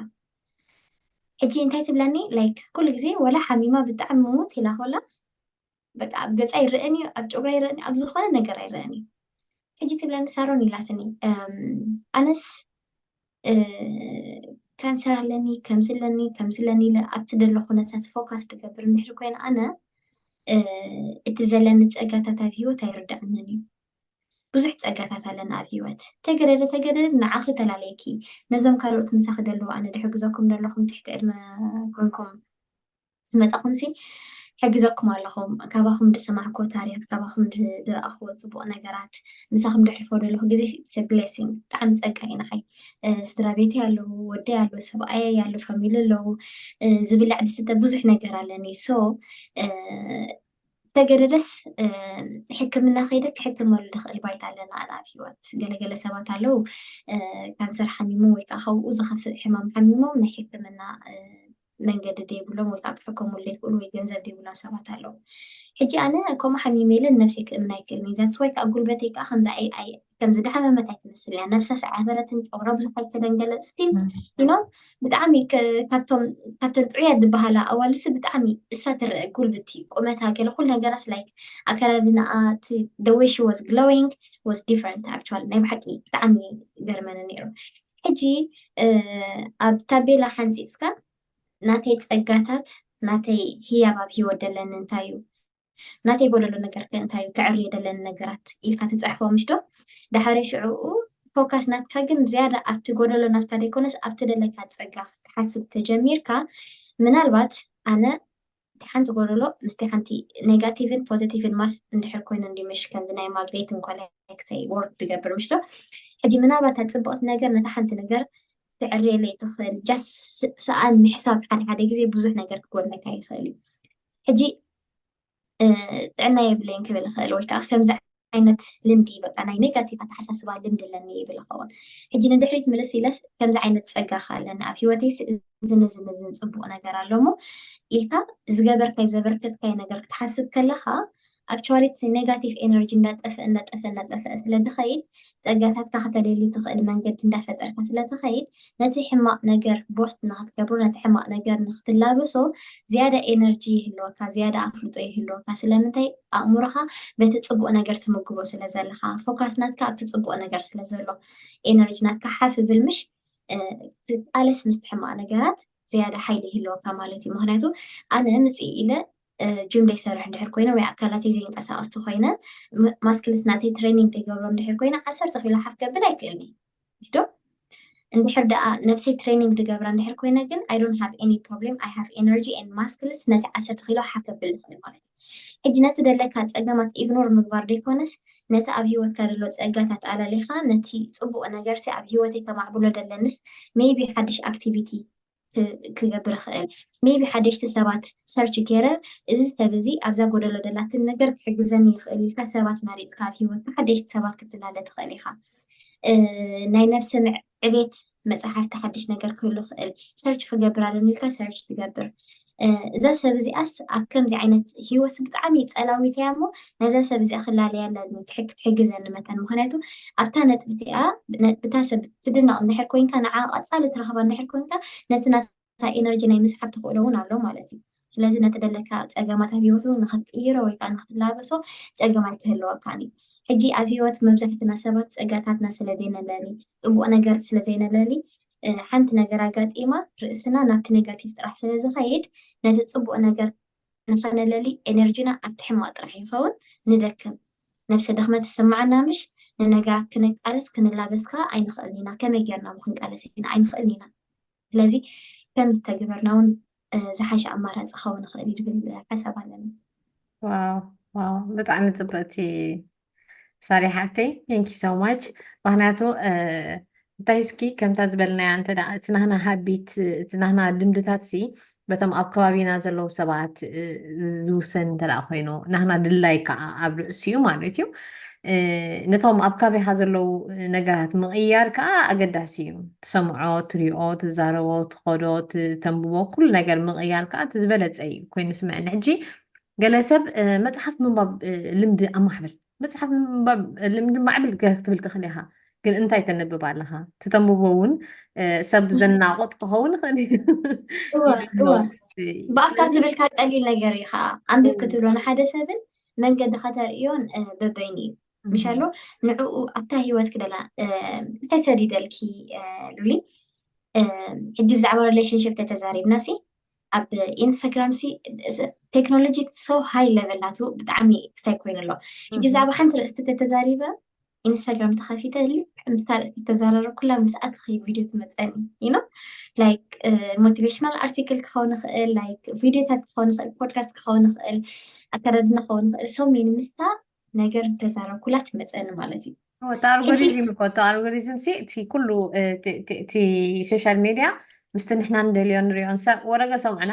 ሕጂ እንታይ ትብለኒ ላይክ ኩሉ ግዜ ወላ ሓሚማ ብጣዕሚ ምውት ኢላ ኮላ በቃ ኣብ ገጻ ይረኣን እዩ ኣብ ጨጉራ ይረኣን እዩ ኣብ ዝኾነ ነገር ኣይረኣን እዩ ሕጂ ትብለኒ ሳሮን ኢላትኒ ኣነስ ካንሰር ኣለኒ ከምዚ ኣለኒ ከምዚ ኣለኒ ኢለ ኣብቲ ደሎ ኩነታት ፎካስ ትገብር እንድሕሪ ኮይነ ኣነ እቲ ዘለኒ ፀጋታት ኣብ ሂወት ኣይርዳእንን እዩ ብዙሕ ፀጋታት ኣለና ኣብ ሂወት ተገደደ ተገደደ ንዓኺ ተላለየኪ ነዞም ካልኦት ምሳኺ ደለዉ ኣነ ድሕግዘኩም ደለኹም ትሕቲ ዕድመ ኮንኩም ዝመጻኹምሲ ሕግዘኩም ኣለኹ ካባኹም ድሰማዕክዎ ታሪኽ ካባኹም ድረኣኽዎ ጽቡቕ ነገራት ምሳኹም ደሕልፎ ደለኹ ግዜ ኢትስ ብሌሲንግ ብጣዕሚ ጸጋ እዩ ንዓይ ስድራ ቤተይ ኣለዉ ወደይ ኣለዉ ሰብኣየይ ኣሎ ፋሚሊ ኣለዉ ዝብላዕ ድስተ ብዙሕ ነገር ኣለኒ ሶ ተገደደስ ሕክምና ከይደ ክሕክመሉ ድኽእል ባይታ ኣለና ኣነ ኣብ ሂወት ገለገለ ሰባት ኣለዉ ካንሰር ሓሚሞም ወይ ከዓ ካብኡ ዝኸፍእ ሕማም ሓሚሞም ናይ ሕክምና መንገዲ ደይብሎም ወይ ከኣ ክሕከምሉ ደይክእሉ ወይ ገንዘብ ደይብሎም ሰባት ኣለዉ ሕጂ ኣነ ከምኡ ሓሚመ ኢለ ንነብሰይ ክእምን ኣይክእልን እየ that's why ከኣ ጉልበተይ ከኣ ከምዛ AI ከም ዝደሓመመት ኣይትመስል እያ ነብሳ ሰዓበረትን ጨጉራ ብዙሕ ኣይከደን ገለ ስቲል ዩኖ ብጣዕሚ ካብቶም ካብተን ጥዑያት ዝበሃላ ኣዋልሲ ብጣዕሚ እሳ ትረአ ጉልብቲ ቁመታ ገለ ኩሉ ነገራስ ላይክ ኣከዳድናኣ እቲ ደወይ ሺ ወዝ ግሎዊንግ ወዝ ዲፍረንት ኣክቹዋሊ ናይ ብሓቂ ብጣዕሚ ገርመኒ ነይሩ ሕጂ ኣብ ታቤላ ሓንጺጽካ ናተይ ጸጋታት ናተይ ህያብ ኣብ ሂወት ደለኒ እንታይ እዩ ናተይ ጎደሎ ነገር ከ እንታይ እዩ ከዕርዮ ደለኒ ነገራት ኢልካ ትጽሕፎ ምሽ ዶ ዳሓረይ ሽዑኡ ፎካስ ናትካ ግን ዝያዳ ኣብቲ ጎደሎ ናትካ ደይኮነስ ኣብቲ ደለካ ጸጋ ክትሓስብ ተጀሚርካ ምናልባት ኣነ እቲ ሓንቲ ጎደሎ ምስቲ ሓንቲ ኔጋቲቭን ፖዘቲቭን ማስ እንድሕር ኮይኑ እንድዩ ምሽ ከምዚ ናይ ማግኔትን ኮለክሰይ ወርክ ዝገብር ምሽዶ ሕጂ ምናልባት እታ ጽብቕቲ ነገር ነታ ሓንቲ ነገር ትዕርየለይ ትኽእል ጃስ ሰኣን ምሕሳብ ሓደ ሓደ ግዜ ብዙሕ ነገር ክጎድለካ ይኽእል እዩ ሕጂ ጥዕና የብለይን ክብል ይኽእል ወይ ከዓ ከምዚ ዓይነት ልምዲ በቃ ናይ ኔጋቲቭ ኣተሓሳስባ ልምዲ ኣለኒ ይብል ይኸውን። ሕጂ ንድሕሪት ምልስ ኢለስ ከምዚ ዓይነት ጸጋ ከ ኣለኒ ኣብ ህይወተይስ እዝን እዝን እዝን ጽቡቕ ነገር ኣሎ እሞ ኢልካ ዝገበርካይ ዘበርከትካይ ነገር ክትሓስብ ከለኻ ኣክቹዋሊ እቲ ኔጋቲቭ ኤነርጂ እንዳጠፍአ እንዳጠፍአ እንዳጠፍአ ስለ ዝኸይድ ጸጋታትካ ከተልየሉ ትኽእል መንገዲ እንዳፈጠርካ ስለ ትኸይድ ነቲ ሕማቕ ነገር ቦስት ንኽትገብሮ ነቲ ሕማቕ ነገር ንኽትላበሶ ዝያዳ ኤነርጂ ይህልወካ ዝያዳ ኣፍልጦ ይህልወካ ስለምንታይ ኣእምሮኻ በቲ ጽቡቕ ነገር ትምግቦ ስለ ዘለኻ ፎካስ ናትካ ኣብቲ ጽቡቕ ነገር ስለ ዘሎ ኤነርጂ ናትካ ሓፍ ይብል ምሽ ትቃለስ ምስቲ ሕማቕ ነገራት ዝያዳ ሓይሊ ይህልወካ ማለት እዩ ምክንያቱ ኣነ ምጽኢ ኢለ ጅም ደይሰርሕ እንድሕር ኮይነ ወይ ኣካላተይ ዘይንቀሳቀስ ተኾይነ ማስክልስ ናተይ ትሬኒንግ ደይገብሮ እንድሕር ኮይነ ዓሰርተ ኪሎ ሓፍ ከብል ኣይክእልን'የ ዊስዶም እንድሕር ደኣ ነብሰይ ትሬኒንግ ድገብራ እንድሕር ኮይነ ግን ኣይ ዶንት ሃቭ ኤኒ ፕሮብሌም ኣይ ሃቭ ኤነርጂ ኤንድ ማስክልስ ነቲ ዓሰርተ ኪሎ ሓፍ ከብል ይኽእል ማለት እዩ ሕጂ ነቲ ደለካ ጸገማት ኢግኖር ምግባር ደይኮነስ ነቲ ኣብ ሂወትካ ደሎ ጸጋታት ኣላሊኻ ነቲ ጽቡቅ ነገርሲ ኣብ ሂወተይ ከማዕብሎ ደለንስ ሜይቢ ሓድሽ ኣክቲቪቲ ክገብር ይኽእል ሜይ ቢ ሓደሽቲ ሰባት ሰርች ጌረ እዚ ሰብ እዚ ኣብዛ ጎደሎ ደላትኒ ነገር ክሕግዘኒ ይኽእል ኢልካ ሰባት መሪጽካ ኣብ ሂወትካ ሓደሽቲ ሰባት ክትላለ ትኽእል ኢኻ ናይ ነብሲ ምዕቤት መጽሓፍቲ ሓድሽ ነገር ክህሉ ይኽእል ሰርች ክገብር ኣለኒ ኢልካ ሰርች ትገብር እዛ ሰብ እዚኣስ ኣብ ከምዚ ዓይነት ሂወት ብጣዕሚ ጸላዊት እያ እሞ ነዛ ሰብ እዚኣ ክላለያ ኣለኒ ክትሕግዘኒ መታን ምክንያቱ ኣብታ ነጥቢ እቲኣ ብታ ሰብ ትድነቕ እንድሕር ኮንካ ንዓ ቀጻሊ ትረኽባ እንድሕር ኮንካ ነቲ ናታ ኤነርጂ ናይ ምስሓብ ተኽእሎ እውን ኣሎ ማለት እዩ ስለዚ ነቲ ደለካ ጸገማት ኣብ ሂወት እውን ንክትቅይሮ ወይ ከዓ ንክትላበሶ ጸገም ኣይክህልወካን እዩ ሕጂ ኣብ ሂወት መብዛሕትና ሰባት ጸጋታትና ስለ ዘይነለሊ ጽቡቕ ነገር ስለ ዘይነለሊ ሓንቲ ነገር ኣጋጢማ ርእስና ናብቲ ኔጋቲቭ ጥራሕ ስለ ዝኸይድ ነቲ ጽቡቕ ነገር ንኸነለሊ ኤነርጂና ኣብቲ ሕማቕ ጥራሕ ይኸውን ንደክም ነብሰ ድኽመት ይስምዓና ምሽ ንነገራት ክነቃልስ ክንላበስ ከኣ ኣይንኽእልን ኢና ከመይ ጌርና እሞ ክንቃለስ ኢና ኣይንኽእልን ኢና ስለዚ ከም ዝተግበርና እውን ዝሓሸ ኣማራፂ ክኸውን ይኽእል እዩ ዝብል ሓሳብ ኣለኒ። ዋው ዋው ብጣዕሚ ፅብቕቲ ሳሪ ሓፍተይ ቴንኪ ሶ ማች ምክንያቱ እንታይ እስኪ ከምታ ዝበልናያ እንተ እቲ ናህና ሃቢት እቲ ናህና ልምድታት ሲ በቶም ኣብ ከባቢና ዘለዉ ሰባት ዝውሰን እንተ ኮይኑ ናህና ድላይ ከዓ ኣብ ርእሲኡ ማለት እዩ ነቶም ኣብ ካባኻ ዘለዉ ነገራት ምቕያር ከዓ ኣገዳሲ እዩ። ትሰምዖ፣ ትሪኦ፣ ትዛረቦ፣ ትኸዶ፣ ተንብቦ ኩሉ ነገር ምቕያር ከዓ እቲ ዝበለፀ እዩ ኮይኑ ዝስምዐኒ። ሕጂ ገለ ሰብ መፅሓፍ ምንባብ ልምዲ ኣማዕብል፣ መፅሓፍ ምንባብ ልምዲ ማዕብል ክትብል ትኽእል ኢኻ፣ ግን እንታይ ተንብብ ኣለኻ? እቲ ተንብቦ እውን ሰብ ዘናቑጥ ክኸውን ይኽእል እዩ። እወ እወ ብኣፍካ ትብልካ ቀሊል ነገር እዩ ከዓ ኣንብብ ክትብሎ ንሓደ ሰብን መንገዲ ከተርእዮን በበይኑ እዩ ምሻሎ ንዕኡ ኣብታ ሂወት ክደላ እንታይ ሰዲደልኪ ሉሊ ሕጂ ብዛዕባ ሪሌሽንሽፕ ተተዛሪብና ሲ ኣብ ኢንስታግራም ሲ ቴክኖሎጂ ሶ ሃይ ለቨል ናቱ ብጣዕሚ ስታይ ኮይኑ ኣሎ ሕጂ ብዛዕባ ሓንቲ ርእስቲ ተተዛሪበ ኢንስታግራም ተኸፊተ ልክዕ ምስታ ርእሲ ዝተዘራረብኩላ ምስ ኣትኺ ቪድዮ ትመፀኒ ይኖ ላይክ ሞቲቬሽናል ኣርቲክል ክኸውን ይኽእል ላይክ ቪድዮታት ክኸውን ይኽእል ፖድካስት ክኸውን ይኽእል ኣከዳድና ክኸውን ይኽእል ሰሜን ምስታ ነገር ተዛረብኩላ ትመፀኒ ማለት እዩ እቲ ኣልጎሪዝም እኮ እቲ ኣልጎሪዝም ሲ እቲ ኩሉ እቲ ሶሻል ሚድያ ምስቲ ንሕና ንደልዮ ንሪኦን ሰብ ወረገ ሰምዕና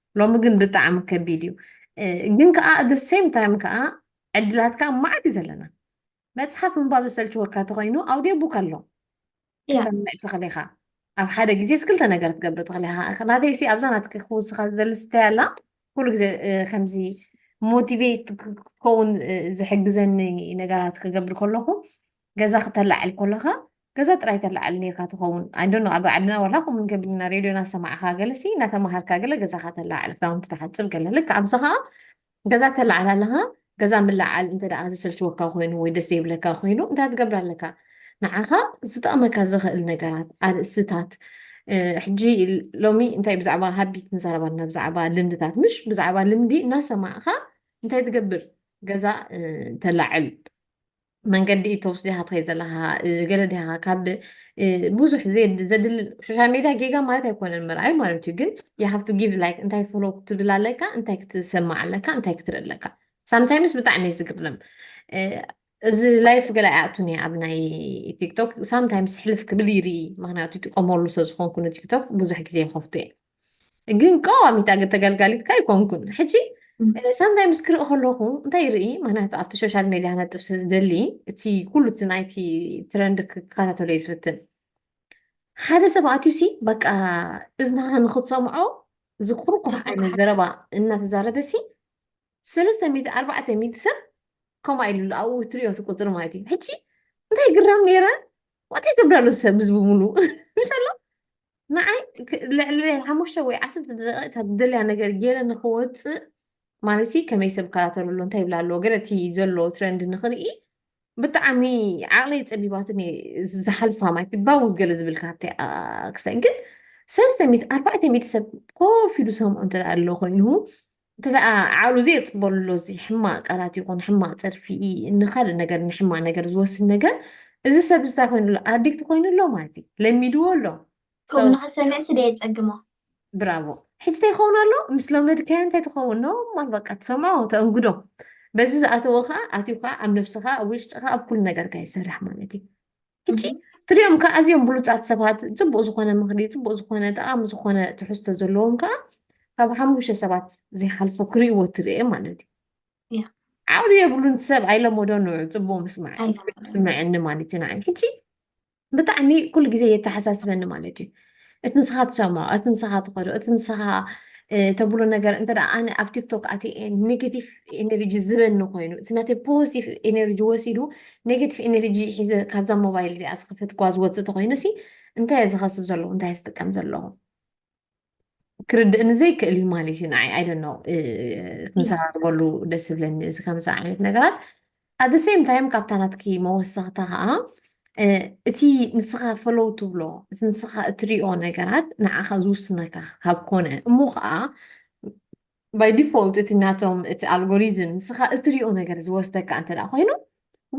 ሎሚ ግን ብጣዕሚ ከቢድ እዩ ግን ከዓ ኣደ ሴም ታይም ከዓ ዕድላት ከዓ ማዓት እዩ ዘለና መፅሓፍ ምንባብ ዝሰልችወካ ተኮይኑ ኣውዲዮ ቡክ ኣሎ ክትሰምዕ ትኽእል ኢኻ ኣብ ሓደ ግዜ ክልተ ነገር ትገብር ትኽእል ኢኻ ናተይ ሲ ኣብዛ ናትኪ ክውስኻ ዝደሊ ስታይ ኣላ ኩሉ ግዜ ከምዚ ሞቲቬት ክኸውን ዝሕግዘኒ ነገራት ክገብር ከለኹ ገዛ ክተላዕል ኮለኻ ገዛ ጥራይ ተላዕል ነርካ ትኸውን ኣይዶኖ ኣብ ዓድና ዋላ ከምኡ ንገብር ኢና ሬድዮ እናሰማዕካ ገለ ሲ እናተማሃርካ ገለ ገዛኻ ተላዕል ክዳውንቲ ተሓፅብ ገለ ልክዕ ኣብዚ ከዓ ገዛ ተላዕል ኣለኻ ገዛ ምልዓል እንተ ደኣ ዘሰልችወካ ኮይኑ ወይ ደስ ዘይብለካ ኮይኑ እንታይ ትገብር ኣለካ ንዓኻ ዝጠቕመካ ዝኽእል ነገራት ኣርእስታት ሕጂ ሎሚ እንታይ ብዛዕባ ሃቢት ንዛረባ ኣለና ብዛዕባ ልምድታት ምሽ ብዛዕባ ልምዲ እናሰማዕኻ እንታይ ትገብር ገዛ ተላዕል መንገዲ ኢትዮፕስ ዲኻ ትኸይድ ዘለኻ ገለ ዲኻ ካብ ብዙሕ ዘድል ሶሻል ሜድያ ጌጋ ማለት ኣይኮነን ምርኣይ ማለት እዩ ግን የሃፍቱ ጊቭ ላይክ እንታይ ፎሎ ክትብል ኣለካ እንታይ ክትሰማዕ ኣለካ እንታይ ክትርኢ ኣለካ ሳምታይምስ ብጣዕሚ እዩ ዝግርም እዚ ላይፍ ገለ ኣይኣቱን እየ ኣብ ናይ ቲክቶክ ሳምታይምስ ሕልፍ ክብል ይርኢ ምክንያቱ ይጥቀመሉ ስለዝኮንኩ ንቲክቶክ ብዙሕ ግዜ ይከፍቱ እየ ግን ቀዋሚት ኣገ ተገልጋሊትካ ኣይኮንኩን ሕጂ ሳንታይ ምስ ክርኢ ከለኹ እንታይ ይርኢ ምክንያቱ ኣብቲ ሶሻል ሜድያ ነጥብ ስለ ዝደሊ እቲ ኩሉ እቲ ናይቲ ትረንድ ክከታተሎ እዩ ዝፍትን ሓደ ሰብ ኣትዩ ሲ በቃ እዝናኻ ንክትሰምዖ ዝኩርኩር ዓይነት ዘረባ እናተዛረበ ሲ ሰለስተ ሚእቲ ኣርባዕተ ሚእቲ ሰብ ከምኡ ኢሉ ኣብኡ ትሪኦ ቁፅሪ ማለት እዩ ሕጂ እንታይ ግራም ነይረ እንታይ ትብረሉ ሰብ ህዝቢ ሙሉ ምሰሎ ንዓይ ክ- ልዕሊ ሓሙሽተ ወይ ዓሰርተ ደቂቕ እታ ትደልያ ነገር ገይረ ንክወፅእ ማለት ሲ ከመይ ሰብ ይከታተሉ ኣሎ እንታይ ይብላ ኣለዎ ገለ እቲ ዘሎ ትረንድ ንክርኢ ብጣዕሚ ዓቕለይ ፀቢባትን እየ ዝሓልፋ ማለት ባው ገለ ዝብል ካብቲ ክሳይ ግን ሰለስተ ሚእቲ ኣርባዕተ ሚእቲ ሰብ ኮፍ ኢሉ ሰምዑ እንተ ኣሎ ኮይኑ እንተደኣ ዓቕሉ ዘየጽበሉ ኣሎ እዚ ሕማቕ ቃላት ይኹን ሕማቕ ጸርፊ ንኻልእ ነገር ንሕማቕ ነገር ዝወስድ ነገር እዚ ሰብ እንታይ ኮይኑ ኣሎ ኣዲክት ኮይኑ ኣሎ ማለት እዩ ለሚድዎ ኣሎ ከምኡ ንኽሰምዕሲ ዶ የጸግሞ ብራቮ ሕጂ እንታይ ይኸውን ኣሎ ምስ ለመድካዮ እንታይ ትኸውን ኖ ማል በቃ ትሰምዖ ተእንግዶ በዚ ዝኣተዎ ከዓ ኣትዩ ከዓ ኣብ ነብስኻ ኣብ ውሽጥኻ ኣብ ኩሉ ነገርካ ይሰርሕ ማለት እዩ ሕጂ ትሪኦም ከዓ ኣዝዮም ብሉፃት ሰባት ፅቡቅ ዝኾነ ምኽሪ ፅቡቅ ዝኾነ ጠቃሚ ዝኾነ ትሕዝቶ ዘለዎም ከዓ ካብ ሓሙሽተ ሰባት ዘይሓልፉ ክሪእዎ ትርኤ ማለት እዩ Yeah. ዓቅሊ የብሉን እቲ ሰብ ኣይለመዶ ንዑ ፅቡቅ ምስማዕ ኣይለመዶን። ስምዐኒ ማለት እዩ ንዓይ ሕጂ ብጣዕሚ ኩሉ ግዜ የተሓሳስበኒ ማለት እዩ እቲ ንስኻ ትሰምዖ፣ እቲ ንስኻ ትኸዶ፣ እቲ ንስኻ ተብሎ ነገር እንተ ኣነ ኣብ ቲክቶክ ኣትየ ኔጌቲቭ ኤነርጂ ዝበኒ ኮይኑ እቲ ናተይ ፖዚቲቭ ኤነርጂ ወሲዱ ኔጌቲቭ ኤነርጂ ሒዘ ካብዛ ሞባይል እዚኣ ዝኸፈትክዋ ዝወፅእ ተኮይነ ሲ እንታይ እየ ዝኸስብ ዘለኹ እንታይ ዝጥቀም ዘለኹ ክርድእኒ ዘይክእል እዩ ማለት እዩ ንዓይ ኣይደኖ ክንሰራርበሉ ደስ ዝብለኒ እዚ ከምዚ ዓይነት ነገራት At the same time ካብታ ናትኪ መወሰኽታ ከኣ እቲ ንስኻ follow ትብሎ እቲ ንስኻ እትሪኦ ነገራት ንዓኻ ዝውስነካ ካብ ኮነ እሞ ከኣ by default እቲ ናቶም እቲ ኣልጎሪዝም ንስኻ እትሪኦ ነገር ዝወስደካ እንተ ደኣ ኮይኑ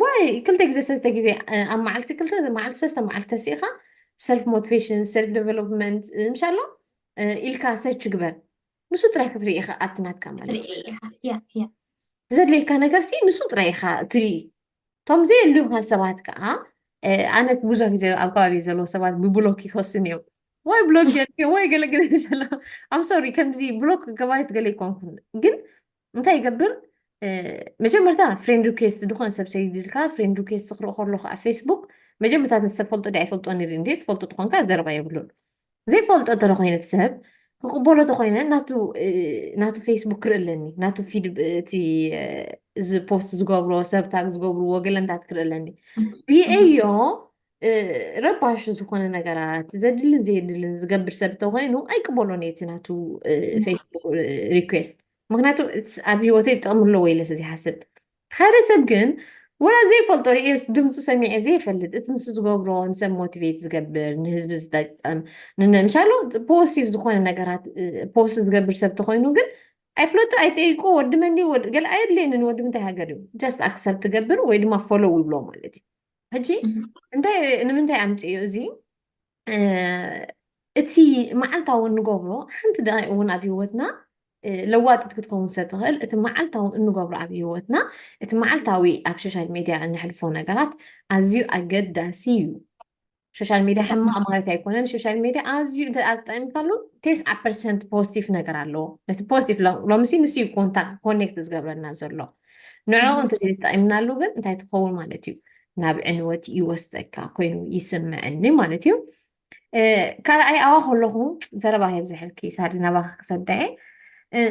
why ክልተ ግዜ ሰለስተ ግዜ ኣብ መዓልቲ ክልተ መዓልቲ ሰለስተ መዓልቲ ተሲእኻ self motivation self development ምሻሎ ኢልካ search ግበር ንሱ ጥራይ ክትርኢ ኢኻ ኣብቲ ናትካ ማለት ዘድልየካ ነገር ሲ ንሱ ጥራይ ኢኻ ትርኢ እቶም ዘየልዩካ ሰባት ከዓ ኣነ ብዙሕ ግዜ ኣብ ከባቢ ዘለዎ ሰባት ብብሎክ ይኸሱን እዮም ወይ ብሎክ ጀርዮ ወይ ገለገለ ዘሎ ኣም ሶሪ ከምዚ ብሎክ ገባሪት ገለ ይኮንኩን ግን እንታይ ይገብር መጀመርታ ፍሬንድ ሪኩዌስት ዝኾነ ሰብ ሰይድልካ ፍሬንድ ሪኩዌስት ክርኢ ከሎ ከዓ ፌስቡክ መጀመርታ ነቲ ሰብ ፈልጦ ዲ ኣይፈልጦን ይርኢ እንዴ ትፈልጦ ትኾንካ ዘረባ የብሉን ዘይፈልጦ እንተ ኮይነ እቲ ሰብ ክቕበሎ ተኮይነ ናቱ ፌስቡክ ክርኢ ኣለኒ ናቱ ፊድ እቲ ፖስት ዝገብሮ ሰብ ታግ ዝገብርዎ ገለንታት ክርኢ ኣለኒ ብየዮ ረባሽ ዝኾነ ነገራት ዘድልን ዘየድልን ዝገብር ሰብ ተኮይኑ ኣይቅበሎን እቲ ናቱ ፌስቡክ ሪኩዌስት ምክንያቱ ኣብ ሂወተይ ጥቕሚ ኣለዎ ኢለ ስለዘይሓስብ ሓደ ሰብ ግን ወላ ዘይፈልጦ ርእየስ ድምፁ ሰሚዐ ዘይፈልጥ እቲ ንሱ ዝገብሮ ንሰብ ሞቲቬት ዝገብር ንህዝቢ ዝጠቅም ንምሻሉ ፖስቲቭ ዝኾነ ነገራት ፖስት ዝገብር ሰብ ተኮይኑ ግን ኣይፍለጡ ኣይጠይቁ ወዲ መን ድዩ ወዲ ገለ ኣየድልየንን ወዲ ምንታይ ሃገር እዩ ጀስት ኣክሰፕት ትገብር ወይ ድማ ፎሎው ይብሎ ማለት እዩ ሕጂ እንታይ ንምንታይ ኣምፅእዮ እዚ እቲ መዓልታዊ እንገብሮ ሓንቲ ደቂቅ እውን ኣብ ሂወትና ለዋጢት ክትከውን ስለትኽእል እቲ መዓልታዊ እንገብሮ ኣብ ሂወትና እቲ መዓልታዊ ኣብ ሶሻል ሚድያ እነሕልፎ ነገራት ኣዝዩ ኣገዳሲ እዩ ሶሻል ሚድያ ሕማቅ ማለት ኣይኮነን ሶሻል ሚድያ ኣዝዩ እንተ ተጠቂምካሉ ቴስዓ ፐርሰንት ፖዚቲቭ ነገር ኣለዎ ነቲ ፖዚቲቭ ሎምሲ ንስዩ ኮንታ ኮኔክት ዝገብረና ዘሎ ንዕኡ እንተዘይተጠቒምናሉ ግን እንታይ ትኸውን ማለት እዩ ናብ ዕንወት ይወስደካ ኮይኑ ይስምዐኒ ማለት እዩ ካልኣይ ኣዋ ከለኹ ዘረባ የብዝሐልኪ ሳዲ ናባኺ ክሰዳየ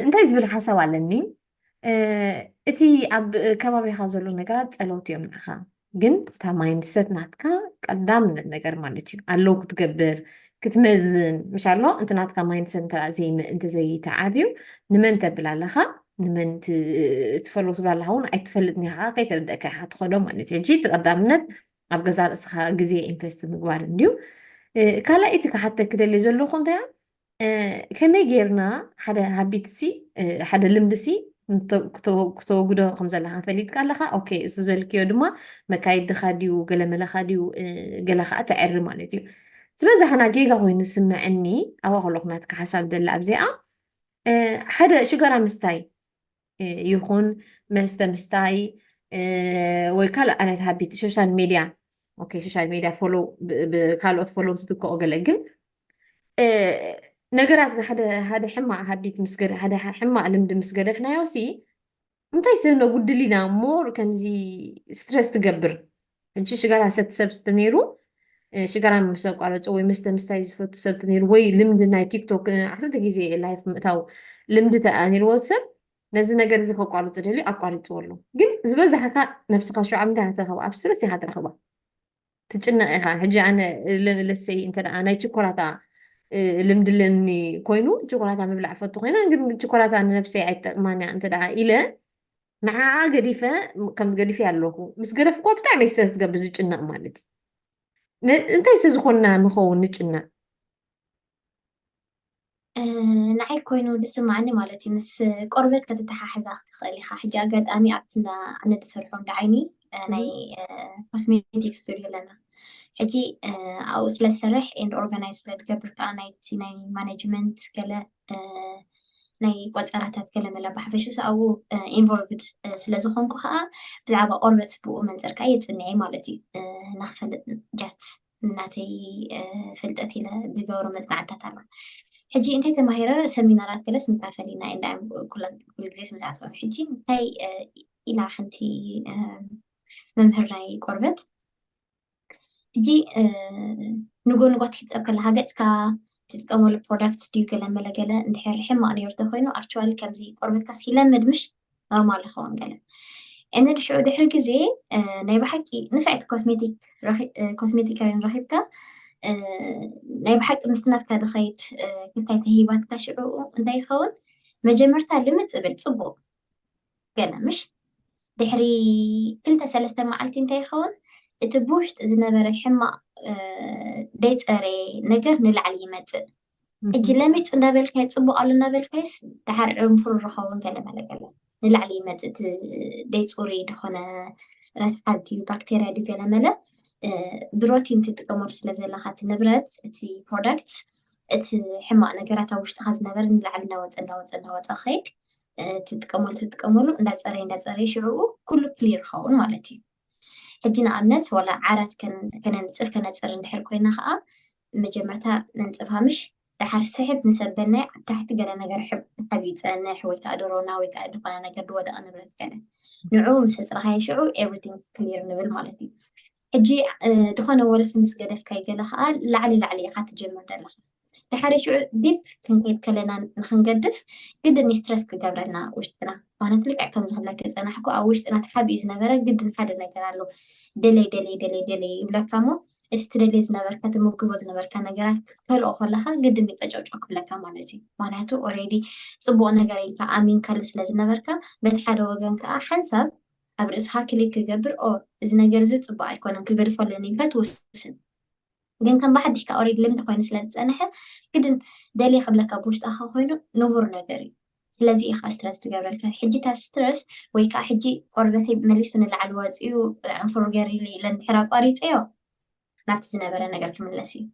እንታይ ዝብል ሓሳብ ኣለኒ እቲ ኣብ ከባቢኻ ዘሎ ነገራት ፀለውቲ እዮም ንዕኻ ግን እታ ማይንድ ሰት ናትካ ቀዳምነት ነገር ማለት እዩ ኣለዉ ክትገብር ክትመዝን ምሽ ኣሎ እንተ ናትካ ማይንድ ሰት እንተዘይተዓብዩ ንመን ተብል ኣለኻ ንመን ትፈል ትብል ኣለካ እውን ኣይትፈልጥ ኒካ ከይተረደእካ ኢካ ትኸዶ ማለት እዩ ሕጂ እቲ ቀዳምነት ኣብ ገዛ ርእስኻ ግዜ ኢንቨስት ምግባር እንድዩ ካልኣይቲ ክሓተክ ደልዩ ዘለኹ እንታይ ከመይ ጌርና ሓደ ሃቢት ሲ ሓደ ልምዲ ሲ ክተወግዶ ከም ዘለካ ፈሊጥካ ኣለካ ኦኬ እዚ ዝበልክዮ ድማ መካይድካ ድዩ ገለመለካ ድዩ ገለ ከዓ ተዕሪ ማለት እዩ ዝበዛሕና ጌጋ ኮይኑ ስምዐኒ ኣዋ ከለኩ ናትካ ሓሳብ ደላ ኣብዚኣ ሓደ ሽጋራ ምስታይ ይኹን መስተ ምስታይ ወይ ካልእ ዓይነት ሃቢት ሶሻል ሚድያ ኦኬ ሶሻል ሚድያ ፎሎ ካልኦት ፎሎ ትትከኦ ገለ ግን ነገራት ሓደ ሕማቅ ሃቢት ምስ ሓደ ሕማቅ ልምዲ ምስ ገደፍናዮ ሲ እንታይ ሰብ ነጉድል ኢና እሞ ከምዚ ስትረስ ትገብር ሕጂ ሽጋራ ዝሰቲ ሰብ ተነይሩ ሽጋራ ምስ ኣቋረጾ ወይ መስተ ምስታይ ዝፈቱ ሰብ ተነይሩ ወይ ልምዲ ናይ ቲክቶክ ዓሰርተ ግዜ ላይፍ ምእታው ልምዲ ተኣኒርዎ ሰብ ነዚ ነገር እዚ ከቋርጹ ደልዩ ኣቋሪጽዎ ኣሎ ግን ዝበዛሕካ ነብስኻ ሸውዓ ምንታይ ኢኻ ትረኽባ ኣብ ስትረስ ኢኻ ትረኽባ ትጭነቕ ኢኻ ሕጂ ኣነ ለሰይ እንተ ናይ ችኮላታ ልምዲ ኣለኒ ኮይኑ ችኮላታ ምብላዕ ፈቱ ኮይና ግን ችኮላታ ንነብሰይ ኣይጠቅማን እያ እንተ ኢለ ንዓኣ ገዲፈ ከም ገዲፈያ ኣለኹ ምስ ገደፍኩዋ ብጣዕሚ እየ ስለ ዝገብር ዝጭነቕ ማለት እዩ ን- እንታይ ስለ ዝኾንና ንኸውን ንጭነቕ ንዓይ ኮይኑ ዝስማዓኒ ማለት እዩ ምስ ቆርበት ከተተሓሕዛ ክትኽእል ኢኻ ሕጂ ኣጋጣሚ ኣብቲ እንዳ ኣነ ዝሰርሖ እንዳ ዓይኒ እ፣ ናይ ኮስሜቲክ ስቱድዮ ኣለና ሕጂ እ፣ ኣብኡ ስለ ዝሰርሕ ኤንድ ኦርጋናይዝ ስለ ዝገብር ከዓ ናይቲ ናይ ማኔጅመንት ገለ ናይ ቆፀራታት ገለመላ ብሓፈሽ ኣብኡ ኢንቮልቭድ ስለዝኾንኩ ከዓ ብዛዕባ ቆርበት ብኡ መንፅር ከዓ የፅንዐ ማለት እዩ ንክፈልጥ ጃስት እናተይ ፍልጠት ኢለ ዝገብሮ መፅናዕትታት ኣሎ ሕጂ እንታይ ተማሂረ ሰሚናራት ገለስ ንካፈል ኢና እንዳ ኩሉ ግዜ ስምዝዓፅበ ሕጂ እንታይ ኢላ ሓንቲ መምህር ናይ ቆርበት ሕጂ ንጎንጓት ክትጠብ ከለካ ገጽካ ትጥቀመሉ ፕሮዳክት ድዩ ገለ መለ ገለ እንድሕር ሕማቅ ነይሩ ተኮይኑ ኣክቹዋሊ ከምዚ ቆርበትካ ሲለምድ ምሽ ኖርማል ይኸውን ገለ እነ ድሽዑ ድሕሪ ግዜ ናይ ብሓቂ ንፍዕቲ ኮስሜቲክ ኮስሜቲከርን ረኪብካ ናይ ብሓቂ ምስትናትካ ድኸይድ ክልታይ ተሂባትካ ሽዑኡ እንታይ ይኸውን መጀመርታ ልምፅ ብል ፅቡቅ ገለ ምሽ ድሕሪ ክልተ ሰለስተ መዓልቲ እንታይ ይኸውን እቲ ብውሽጢ ዝነበረ ሕማቕ ደይፀረየ ነገር ንላዕሊ ይመፅእ ሕጂ ለሚፅ እንዳበልካዮ ፅቡቅ ኣሎ እንዳበልካዮስ ድሓር ዕንፉር ዝኸውን ገለ መለ ገለ ንላዕሊ ይመፅእ እቲ ደይፁሪ ድኾነ ረስሓት ድዩ ባክቴርያ ድዩ ገለ መለ ብሮቲን ትጥቀመሉ ስለ ዘለካ እቲ ንብረት እቲ ፕሮዳክት እቲ ሕማቅ ነገራት ኣብ ውሽጥካ ዝነበረ ንላዕሊ እንዳወፀ እንዳወፀ እንዳወፀ ከይድ ትጥቀመሉ ትጥቀመሉ እንዳፀረየ እንዳፀረየ ሽዕኡ ኩሉ ክሊር ይኸውን ማለት እዩ ሕጂ ንኣብነት ዋላ ዓራት ከነንፅፍ ከነፅር እንድሕር ኮይና ከዓ መጀመርታ ነንፅፋ ምሽ ድሓር ስሕብ ምስ ኣበልናዮ ኣብ ታሕቲ ገለ ነገር ሕብ ድሓብ ይፀንሕ ወይ ከዓ ድሮና ወይ ከዓ ዝኾነ ነገር ድወደቐ ንብረት ገለ ንዕኡ ምስ ኣፅረኻዮ ሽዑ ኤቭሪቲንግ ክሊር ንብል ማለት እዩ ሕጂ ድኾነ ወልፊ ምስ ገደፍካዩ ገለ ከኣ ላዕሊ ላዕሊ ኢኻ ትጅምር ደለኻ ድሓሪ ሽዑ ዲፕ ክንከይድ ከለና ንክንገድፍ ግድን ዩ ስትረስ ክገብረና ውሽጥና ማነት ልክዕ ከምዚ ክብለኪ ዝጸናሕኩ ኣብ ውሽጥና ተሓቢኡ ዝነበረ ግድን ሓደ ነገር ኣሎ ደለይ ደለይ ደለይ ደለይ ይብለካ እሞ እቲ ትደልዮ ዝነበርካ ትምግቦ ዝነበርካ ነገራት ክትከልኦ ከለኻ ግድን ዩ ቀጨውጨው ክብለካ ማለት ዩ ማንያቱ ኦሬዲ ጽቡቅ ነገር ኢልካ ኣሚንካሉ ስለ ዝነበርካ በቲ ሓደ ወገን ከኣ ሓንሳብ ኣብ ርእስኻ ክሊክ ክገብር ኦር እዚ ነገር እዚ ጽቡቅ ኣይኮነን ክገድፎ ኣለኒ ኢልካ ትውስን ግን ከም ብሓድሽ ከኣ ኦሬዲ ልምዲ ኮይኑ ስለ ዝጸነሐ ግድን ደልየ ክብለካ ብውሽጣኻ ኮይኑ ንቡር ነገር እዩ ስለዚ እዩ ከዓ ስትረስ ትገብረልካ ሕጂ እታ ስትረስ ወይ ከዓ ሕጂ ቆርበተይ መሊሱ ንላዕሊ ወፂኡ ዕንፍሩ ገሪሉ ኢለ እንድሕር ኣቋሪፀዮ ናብቲ ዝነበረ ነገር ክምለስ እዩ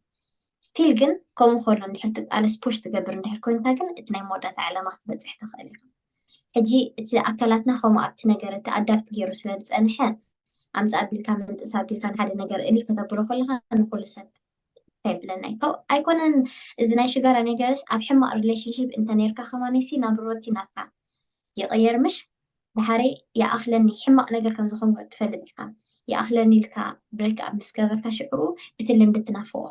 ስቲል ግን ከምኡ ከሎ እንድሕር ትቃለስ ፑሽ ትገብር እንድሕር ኮይንካ ግን እቲ ናይ መወዳእታ ዕላማ ክትበፅሕ ትኽእል ኢኻ ሕጂ እቲ ኣካላትና ከምኡ ኣብቲ ነገር እቲ ኣዳብት ገይሩ ስለ ዝፀንሐ ኣምፃእ ኣቢልካ ምንጥስ ኣቢልካ ንሓደ ነገር እሊ ከተብሎ ከለካ ንኩሉ ሰብ እንታይ ብለና እዩ ኣይኮነን እዚ ናይ ሽጋራ ነገርስ ኣብ ሕማቅ ሪሌሽንሽፕ እንተ ነርካ ከማነሲ ናብ ሮቲ ናትካ ይቅየር ምሽ ዳሓረይ ይኣክለኒ ሕማቅ ነገር ከም ዝኮንኩ ትፈልጥ ኢካ ይኣክለኒ ኢልካ ብሬክ ኣፕ ምስ ገበርካ ሽዑኡ እቲ ልምዲ ትናፍቆ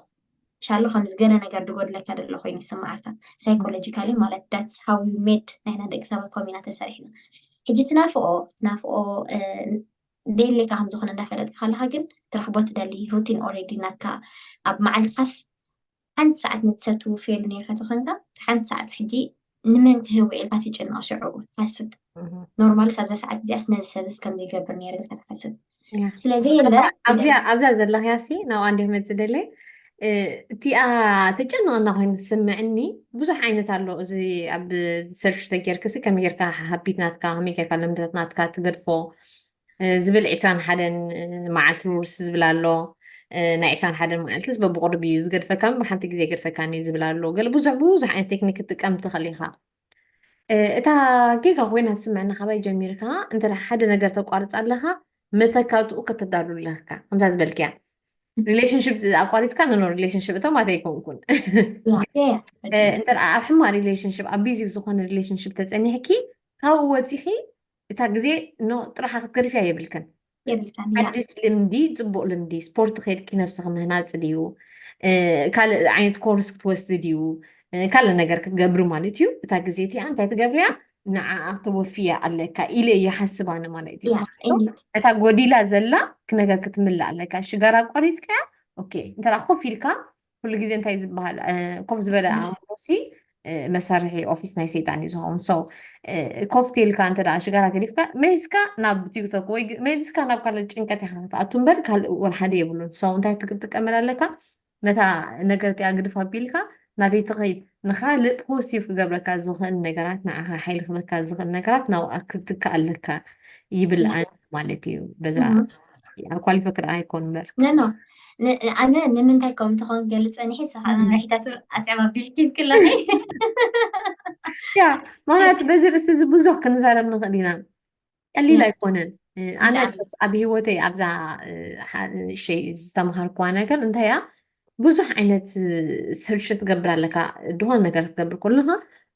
ሻሎ ከምዚ ገለ ነገር ድጎድለካ ደሎ ኮይኑ ይስምዓካ ሳይኮሎጂካሊ ማለት ዳትስ ሃው ዩ ሜድ ናይና ደቂ ሰባት ኮሚና ተሰሪሕና ሕጂ ትናፍቆ ትናፍቆ ደየለካ ከም ዝኮነ እንዳፈለጥካ ከለካ ግን ትረክቦ ትደሊ ሩቲን ኦሬዲ ናትካ ኣብ መዓልትካስ ሓንቲ ሰዓት ንሰብ ትውፍየሉ ኔርካ ተኮንካ እታ ሓንቲ ሰዓት ሕጂ ንመን ክህቦ ኢልካ ትጭነቅ ሽዑ ትሓስብ ኖርማልስ ኣብዛ ሰዓት እዚኣስ ነዚ ሰብስ ከምዚ ይገብር ኔረ ኢልካ ትሓስብ እያ ስለዘየለ ኣብዛ ኣብዚኣ ኣብዛ ዘለኽያ ሲ ናብኣ እንዲየ ክመፅእ ደለየ እ፣ እቲኣ ተጨንቐና ኮይኑ ትስምዕኒ ብዙሕ ዓይነት ኣሎ እዚ ኣብ ሰርች ተጌርክሲ ከመይ ጌርካ ሃቢት ናትካ ከመይ ጌርካ ልምድታት ናትካ ትገድፎ ዝብል ዒስራን ሓደን መዓልቲ ውርስ ዝብል ኣሎ ናይ ዒስራን ሓደን መዓልትስ በብቑርብ እዩ ዝገድፈካ እምበር ሓንቲ ግዜ ኣይገድፈካን እዩ ዝብል ኣሎ ገለ ብዙሕ ብዙሕ ዓይነት ቴክኒክ ክትጥቀም ትኽእል ኢኻ እታ ጌጋ ኮይና ትስምዐና ካባይ ጀሚርካ እንተ ሓደ ነገር ተቋርፅ ኣለኻ መተካትኡ ከተዳሉ ኣለካ ከምታ ዝበልክያ ሪሌሽንሽፕ ኣቋሪፅካ ኖ ሪሌሽንሽፕ እቶም ኣተይኮንኩን እንተ ኣብ ሕማ ሪሌሽንሽፕ ኣብ ቢዚ ዝኾነ ሪሌሽንሽፕ ተፀኒሕኪ ካብኡ ወፂኺ እታ ግዜ ን ጥራሓ ክትገድፍያ የብልክን። የብልካን እያ። ሓድሽ ልምዲ ጽቡቅ ልምዲ ስፖርት ኬድኪ ነብስኪ ምህናጽ ድዩ ካልእ ዓይነት ኮርስ ክትወስዲ ድዩ ካልእ ነገር ክትገብሪ ማለት እዩ እታ ግዜ እቲኣ እንታይ ትገብርያ ንዓኣ ተወፍያ ኣለካ ኢለ እየ ሓስብ ኣነ ማለት እዩ እያ ኢኒድ እታ ጎዲላ ዘላ ነገር ክትምልእ ኣለካ ሽጋራ ኣቋሪጽካያ ኦኬ እንተ ኮፍ ኢልካ ኩሉ ግዜ እንታይ ዝበሃል ኮፍ ዝበለ ኣእምሮ ሲ መሳርሒ ኦፊስ ናይ ሰይጣን እዩ ዝኸውን ሰው ኮፍ ቴልካ እንተ ሽጋራ ገዲፍካ መሊስካ ናብ ቲክቶክ ወይ መሊስካ ናብ ካልእ ጭንቀት ኢካ ክትኣቱ እምበር ካልእ እውን ሓደ የብሉን ሰው እንታይ ትጥቀመላ ኣለካ ነታ ነገር እቲኣ ግድፍ ኣቢልካ ናበይ ትኸይድ ንካልእ ፖሲቭ ክገብረካ ዝኽእል ነገራት ንዓኻ ሓይሊ ክበካ ዝኽእል ነገራት ናብኣ ክትካ ኣለካ ይብል ኣነ ማለት እዩ በዛ ኣብ ኳሊፎ ክዳ ኣይኮን በር ነኖ ኣነ ንምንታይ ከም ትኾን ገልፀ ንሒ ስኻ መምርሒታት ኣስዕባ ቢልኪ ክለኺ ያ ማለት በዚ ርእሲ እዚ ብዙሕ ክንዛረብ ንኽእል ኢና ቀሊል ኣይኮነን ኣነ ኣብ ሂወተይ ኣብዛ ሸይ ዝተምሃርክዋ ነገር እንታይ እያ ብዙሕ ዓይነት ስርሽ ትገብር ኣለካ ድሆን ነገር ክትገብር ከለካ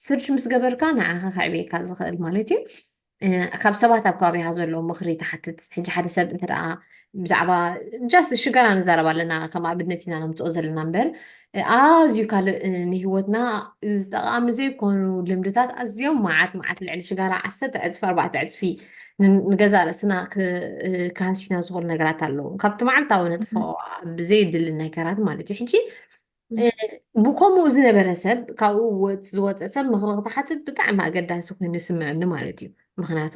ስርሽ ምስ ገበርካ ንዓኻ ከዕብየካ ዝኽእል ማለት እዩ ካብ ሰባት ኣብ ከባቢካ ዘሎ ምክሪ ትሓትት ሕጂ ሓደ ሰብ እንተ ብዛዕባ ጃስት ሽጋራ ንዛረብ ኣለና ከም ኣብነት ኢና ነምፅኦ ዘለና እምበር ኣዝዩ ካልእ ንሂወትና ጠቃሚ ዘይኮኑ ልምድታት ኣዝዮም መዓት መዓት ልዕሊ ሽጋራ ዓሰርተ ዕፅፊ ኣርባዕተ ዕፅፊ ንገዛ ርእስና ክሃስዩና ዝኽእሉ ነገራት ኣለዉ ካብቲ መዓልታዊ ነጥፎ ብዘይድሊ ነገራት ማለት እዩ ሕጂ ብከምኡ ዝነበረ ሰብ ካብኡ ዝወፀ ሰብ ምክሪ ክትሓትት ብጣዕሚ ኣገዳሲ ኮይኑ ይስምዐኒ ማለት እዩ ምክንያቱ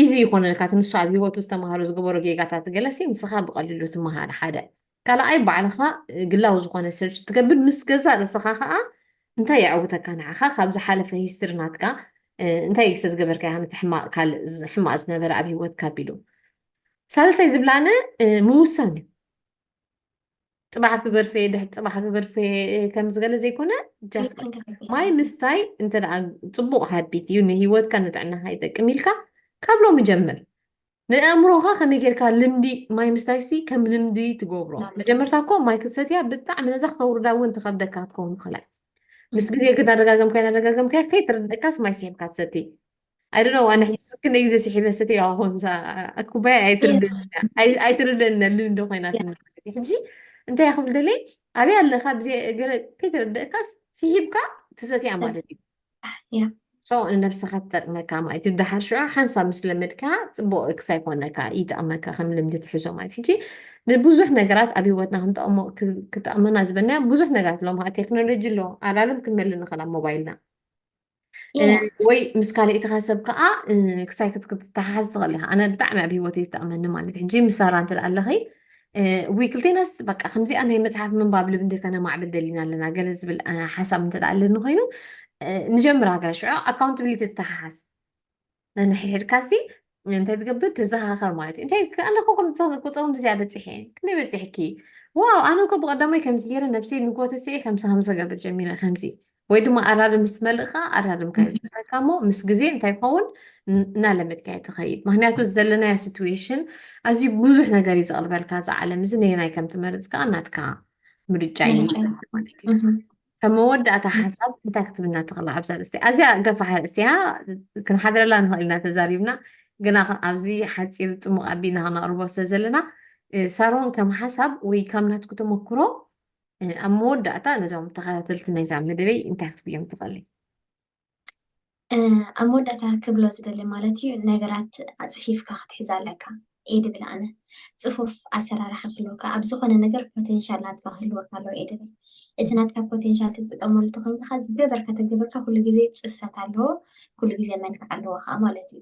ኢዚ ይኮነልካ እቲ ንሱ ኣብ ሂወቱ ዝተምሃሮ ዝገበሮ ጌጋታት ገለሲ ንስኻ ብቀሊሉ ትምሃር ሓደ ካልኣይ ባዕልኻ ግላዊ ዝኮነ ሰርች ትገብር ምስ ገዛእ ርእስኻ ከዓ እንታይ የዐውተካ ንዓኻ ካብ ዝሓለፈ ሂስትሪ ናትካ እንታይ ኢልሰ ዝገበርካ ያ ነቲ ሕማቅ ካልእ ሕማቅ ዝነበረ ኣብ ሂወትካ ኣቢሉ ሳልሳይ ዝብላነ ምውሳን እዩ ፅባሕ ክገድፈ እየ ድሕሪ ፅባሕ ክገድፈ እየ ከምዚ ገለ ዘይኮነ ጃስት ክንዲ ክንዲ ማይ ኢና። ምስታይ እንተ ደኣ ፅቡቕ ሃቢት እዩ ንሂወትካ ንጥዕናኻ ይጠቅም ኢልካ ካብ ሎሚ ጀምር ንኣእምሮኻ ከመይ ጌርካ ልምዲ ማይ ምስታይሲ ከም ልምዲ ትገብሮ ናብ መጀመርታ እኮ ማይ ክትሰትያ ብጣዕሚ ነዛ ክተውርዳ እውን ትኸብደካ ክትከውን ትኽእላ ምስ ግዜ ግን ኣደጋገምካዮ ኣደጋገምካዮ ከይተረድእካስ ማይ ስሒብካ ትሰቲ I don't know ኣነ ሕጂ ክንደ ግዜ ስሒበ ሰትዮ ኣኾንሳ ኩባያ ኣይትርደና ልንዶ ኮይና ሕጂ እንታይ ክብል ደለይ ኣበይ ኣለካ ብዘ ገለ ከይተረደእካስ ስሒብካ ትሰትያ ማለት እዩ ሰው ንነብስኻ ትጠቅመካ ማለት እዩ ድሓር ሽዑ ሓንሳብ ምስ ለመድካ ፅቡቅ ክሳይ ይኮነካ ይጠቅመካ ከም ልምዲ ትሕዞ ማለት ሕጂ ንብዙሕ ነገራት ኣብ ሂወትና ክንጠቅሞ ክጠቅመና ዝበናዮ ብዙሕ ነገራት ኣለዎ ቴክኖሎጂ ኣሎ ኣላለም ክንመሊ ንኽእል ኣብ ሞባይልና ወይ ምስ ካልእትኻ ሰብ ከዓ ክሳይ ክትተሓሓዝ ትኽእል ኢኻ ኣነ ብጣዕሚ ኣብ ሂወት ይጠቕመኒ ማለት ሕጂ ምስ ሳራ እንተ ኣለኺ ወይ ክልቴናስ በቃ ከምዚኣ ናይ መፅሓፍ ምንባብ ልብንዲ ከነማዕብል ደሊና ኣለና ገለ ዝብል ሓሳብ እንተ ኣለኒ ኮይኑ ንጀምር ሃገር ሽዑ ኣካውንትብሊቲ ትተሓሓዝ ነንሕድሕድካሲ እንታይ ትገብር ትዘኻኸር ማለት እዩ እንታይ ኣለኩ ቁፅሮም ድዚኣ በፂሐ ክንደይ በፂሕኪ ዋው ኣነ እኮ ብቀዳማይ ከምዚ ገይረ ነብሰይ ንጎተሰ ከምዚ ከምዚ ገብር ጀሚረ ከምዚ ወይ ድማ ኣራርም ምስ መልእካ ኣራርምካ ዝካ እሞ ምስ ግዜ እንታይ ይኸውን እናለመድካ ትኸይድ ምክንያቱ ዘለናዮ ሲትዌሽን ኣዝዩ ብዙሕ ነገር እዩ ዘቕርበልካ ዝዓለም እዚ ነየናይ ከም ትመርፅ ከዓ ናትካ ምርጫ እዩ ማለት እዩ ከም መወዳእታ ሓሳብ እንታይ ክትብልና ትኽእላ ኣብዛ ርእስቲ ኣዝያ ገፋሕ ርእስቲያ ክንሓድረላ ንኽእል ኢና ተዛሪብና ግና ኣብዚ ሓፂር ፅሙቕ ኣቢና ክነቕርቦ ስለ ዘለና ሳሮን ከም ሓሳብ ወይ ካብ ናትኩ ተመክሮ ኣብ መወዳእታ ነዞም ተኸታተልቲ ናይዛ መደበይ እንታይ ክትብዮም ትኽእልይ ኣብ መወዳእታ ክብሎ ዝደሊ ማለት እዩ ነገራት ኣፅፊፍካ ክትሕዝ ኣለካ እየ ድብል ኣነ ፅፉፍ ኣሰራርሓ ክህልወካ ኣብ ዝኾነ ነገር ፖቴንሻል ናትካ ክህልወካ ኣለዎ እየ ድብል እቲ ናትካ ፖቴንሻል ትጥቀመሉ ተኮይንካ ዝገበርካ ተገበርካ ኩሉ ግዜ ፅፈት ኣለዎ ኩሉ ግዜ መልክዕ ኣለዎ ከዓ ማለት እዩ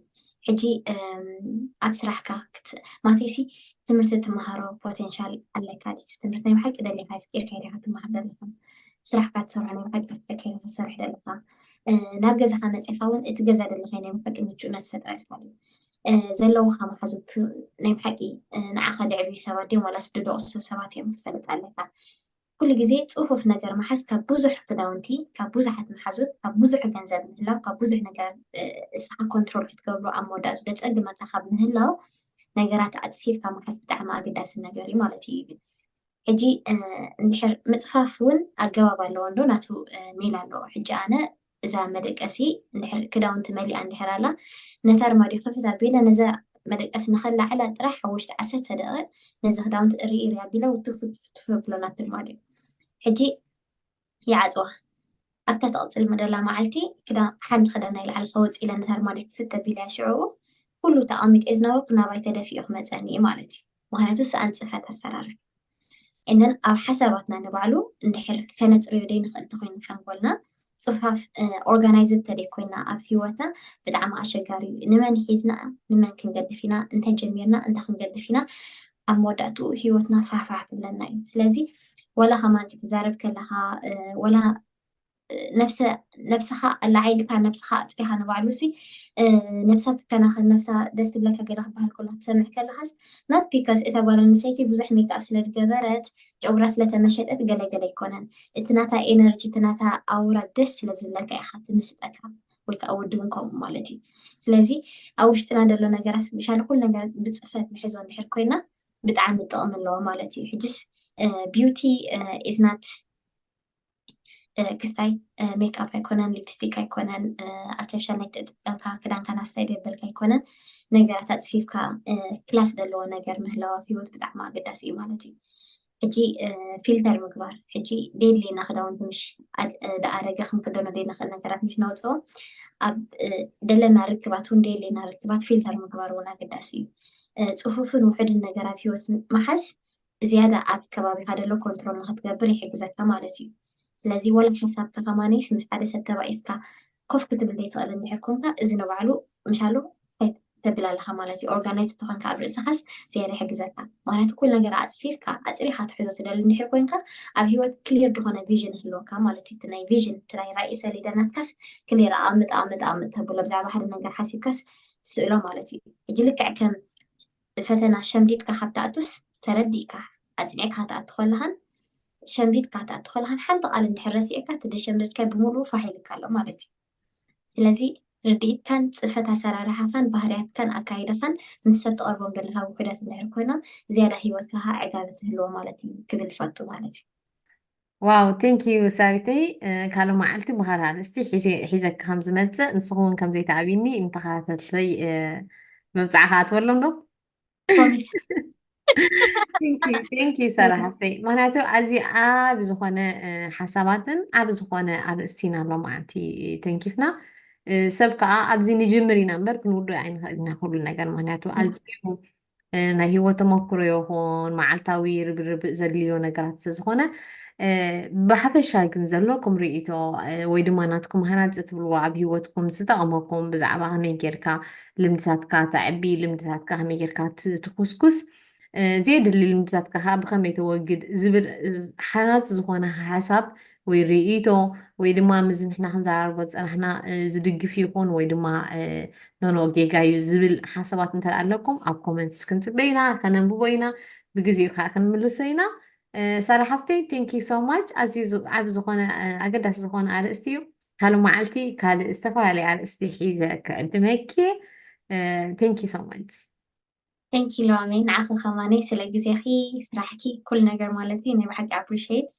ሕጂ ኣብ ስራሕካ ማቴሲ ትምህርቲ ትምሃሮ ፖቴንሻል ኣለካ ድች ትምህርቲ ናይ ብሓቂ ደሊካ ፍቂርካ ኢካ ትምሃር ዘለካ ስራሕካ ትሰርሖ ናይ መሓቂ መፍጠሪ ከይነ ክትሰርሕ ደለካ ናብ ገዛካ መፅካ እውን እቲ ገዛ ደለ ከይነ መሓቂ ምቹእነት ፈጥረልካ ድዩ ዘለውካ መሓዙት ናይ ብሓቂ ንዓኻ ደዕብዩ ሰባት ድዮም ዋላስ ድደቑሱ ሰባት እዮም ክትፈልጥ ኣለካ ኩሉ ግዜ ፅፉፍ ነገር መሓዝ ካብ ብዙሕ ክዳውንቲ ካብ ብዙሓት መሓዙት ካብ ብዙሕ ገንዘብ ምህላው ካብ ብዙሕ ነገር እስኻ ኮንትሮል ክትገብሩ ኣብ መወዳእቱ ደፀግመካ ካብ ምህላው ነገራት ኣፅፊፍካ መሓዝ ብጣዕሚ ኣገዳሲ ነገር እዩ ማለት እዩ ሕጂ እንድሕር ምጽፋፍ ውን ኣገባብ ኣለዎ እንዶ ናቱ ሜላ ኣለዎ ሕጂ ኣነ እዛ መደቀሲ እንድሕር ክዳውንቲ መሊኣ እንድሕር ኣላ ነቲ ኣርማድዮ ክፍት ኣቢለ ነዛ መደቀሲ ንኸላዕላ ጥራሕ ኣብ ውሽጢ ዓሰርተ ደቂቅ ነዚ ክዳውንቲ እርይ እርይ ኣቢለ ውትፍ ውትፍ እብሎ ናብቲ ኣርማድዮ ሕጂ ይዓጽዋ። ኣብታ ትቕጽል ምደላ መዓልቲ ክዳን ሓንቲ ክዳን ናይ ላዕሊ ከወጽእ ኢለ ነታ ኣርማድዮ ክፍት ኣቢለያ ሽዕኡ ኩሉ እቲ ኣቐሚጠዮ ዝነበርኩ ናባይ ተደፊኡ ክመጸኒ እዩ ማለት እዩ ምኽንያቱ ሰኣን ጽፈት ኣሰራርሕ and then ኣብ ሓሳባትና ንባዕሉ እንድሕር ከነጽርዮ ደይንኽእል ተኮይኑ ሓንጎልና ጽፋፍ ኦርጋናይዝድ ተደይ ኮይና ኣብ ህይወትና ብጣዕሚ ኣሸጋሪ እዩ ንመን ሒዝና ንመን ክንገድፍ ኢና እንታይ ጀሚርና እንታይ ክንገድፍ ኢና ኣብ መወዳእትኡ ሂወትና ፋሕፋሕ ክብለና እዩ ስለዚ ወላ ከማን ክትዛረብ ከለካ ወላ ነብሰካ ኣላዓይልካ ነብሰካ ኣፅሪካ ንባዕሉ ሲ ነብሳ ትከናኸን ነብሳ ደስ ትብለካ ገለ ክበሃል ከሎ ትሰምዕ ከለካስ ናት ቢካስ እታ ጓል ኣንስተይቲ ብዙሕ ሜክኣፕ ስለ ዝገበረት ጨጉራ ስለተመሸጠት ገለገለ ኣይኮነን እቲ ናታ ኤነርጂ እቲ ናታ ኣውራ ደስ ስለ ዝብለካ ኢካ ትምስጠካ ወይ ከዓ ወዲ እውን ከምኡ ማለት እዩ ስለዚ ኣብ ውሽጥና ዘሎ ነገራት ስፔሻሊ ኩሉ ነገራት ብፅፈት ንሕዞ እንድሕር ኮይና ብጣዕሚ ጥቕሚ ኣለዎ ማለት እዩ ሕጅስ ቢዩቲ ኢዝ ናት ክስታይ ሜክኣፕ ኣይኮነን ሊፕስቲክ ኣይኮነን ኣርቲፊሻል ናይ ተጠቀምካ ክዳንካ ናስታይ ደበልካ ኣይኮነን ነገራት ኣፅፊፍካ ክላስ ዘለዎ ነገር ምህላው ኣብ ሂወት ብጣዕሚ ኣገዳሲ እዩ ማለት እዩ ሕጂ ፊልተር ምግባር ሕጂ ዴድሌና ክዳውንቲ ምሽ ደኣረገ ክንክደኖ ዘይንኽእል ነገራት ምሽ ነውፅኦ ኣብ ደለና ርክባት እውን ዴድሌና ርክባት ፊልተር ምግባር እውን ኣገዳሲ እዩ ፅፉፍን ውሕድን ነገር ኣብ ሂወት ምሓዝ ዝያዳ ኣብ ከባቢኻ ደሎ ኮንትሮል ንክትገብር ይሕግዘካ ማለት እዩ ስለዚ ወላ ሓሳብካ ከማነይስ ምስ ሓደ ሰብ ተባኢስካ ኮፍ ክትብል ዘይትኽእል እንድሕር ኮንካ እዚ ንባዕሉ ምሻሉ ፋይት ተብል ኣለኻ ማለት እዩ ኦርጋናይዝ እንተኾንካ ኣብ ርእስኻስ ዝያዳ ይሕግዘካ ምኽንያቱ ኩሉ ነገር ኣጽፊፍካ ኣጽሪኻ ትሕዞ ትደሊ እንድሕር ኮንካ ኣብ ህይወት ክሊር ዝኾነ ቪዥን ይህልወካ ማለት እዩ እቲ ናይ ቪዥን እቲ ናይ ራኢ ሰሌዳ ናትካስ ክሊር ኣኣምጥ ኣኣምጥ ኣኣምጥ ተብሎ ብዛዕባ ሓደ ነገር ሓሲብካስ ስእሎ ማለት እዩ ሕጂ ልክዕ ከም ፈተና ሸምዲድካ ካብ ትኣቱስ ተረዲእካ ኣጽኒዕካ ክትኣቱ ከለኻን ሸምዲድካ ክትኣቱ ከለኻን ሓንቲ ቃል እንድሕር ረሲዕካ እቲ ደሸምደድካዮ ብምሉኡ ፋሕ ኢሉካ ኣሎ ማለት እዩ። ስለዚ ርድኢትካን ጽፈት ኣሰራርሓኻን ባህርያትካን ኣካይዳኻን ምስ ሰብ ትቐርቦም ዘለኻ ውሑዳት እንድሕር ኮይኖም ዝያዳ ህይወትካ ከኣ ዕጋበት ይህልዎ ማለት እዩ ክብል እፈቱ ማለት እዩ። ዋው ቴንክ ዩ ሳቢተይ ካልእ መዓልቲ ብካልእ ኣርእስቲ ሒዘኪ ከም ዝመፅእ ንስኺ እውን ከም ዘይትኣብይኒ ንተኸታተልተይ መብፅዓ ክኣትወሎም ዶ ቴንክ ዩ ሰራ ሃፍተይ ምክንያቱ ኣዚ ኣብ ዝኾነ ሓሳባትን ኣብ ዝኾነ ኣርእስቲ ኢና ኣሎ መዓልቲ ተንኪፍና ሰብ ከዓ ኣብዚ ንጅምር ኢና እምበር ክንውዱ ኣይንኽእል ኢና ኩሉ ነገር ምክንያቱ ኣዝዩ ናይ ሂወት ተመክሮ ይኹን መዓልታዊ ርብርብ ዘድልዮ ነገራት ስለዝኾነ ብሓፈሻ ግን ዘሎ ከም ርእይቶ ወይ ድማ ናትኩም ሃናፂ ትብልዎ ኣብ ሂወትኩም ዝጠቕመኩም ብዛዕባ ከመይ ጌርካ ልምድታትካ ተዕቢ ልምድታትካ ከመይ ጌርካ ትኩስኩስ ዘየድሊ ልምድታትካ ከዓ ብከመይ ተወግድ ዝብል ሓናፂ ዝኾነ ሓሳብ ወይ ርእይቶ ወይ ድማ ምዚ ንሕና ክንዘራርቦ ዝጸናሕና ዝድግፍ ይኹን ወይ ድማ ኖኖ ጌጋ እዩ ዝብል ሓሳባት እንተ ኣለኩም ኣብ ኮመንትስ ክንጽበ ኢና ከነንብቦ ኢና ብግዜኡ ከዓ ክንምልሶ ኢና ሳላ ሓፍተይ ቴንኪ ሶ ማች ኣዝዩ ዓብ ዝኾነ ኣገዳሲ ዝኾነ ኣርእስቲ እዩ ካልእ መዓልቲ ካልእ ዝተፈላለየ ኣርእስቲ ሒዘ ክዕድመኪ ቴንኪ ሶ ማች Thank you ሎሚ ንዓኺ ከማነይ ስለ ግዜኺ ስራሕኪ ኩሉ ነገር ማለት እዩ ናይ ብሓቂ ኣፕሪሽት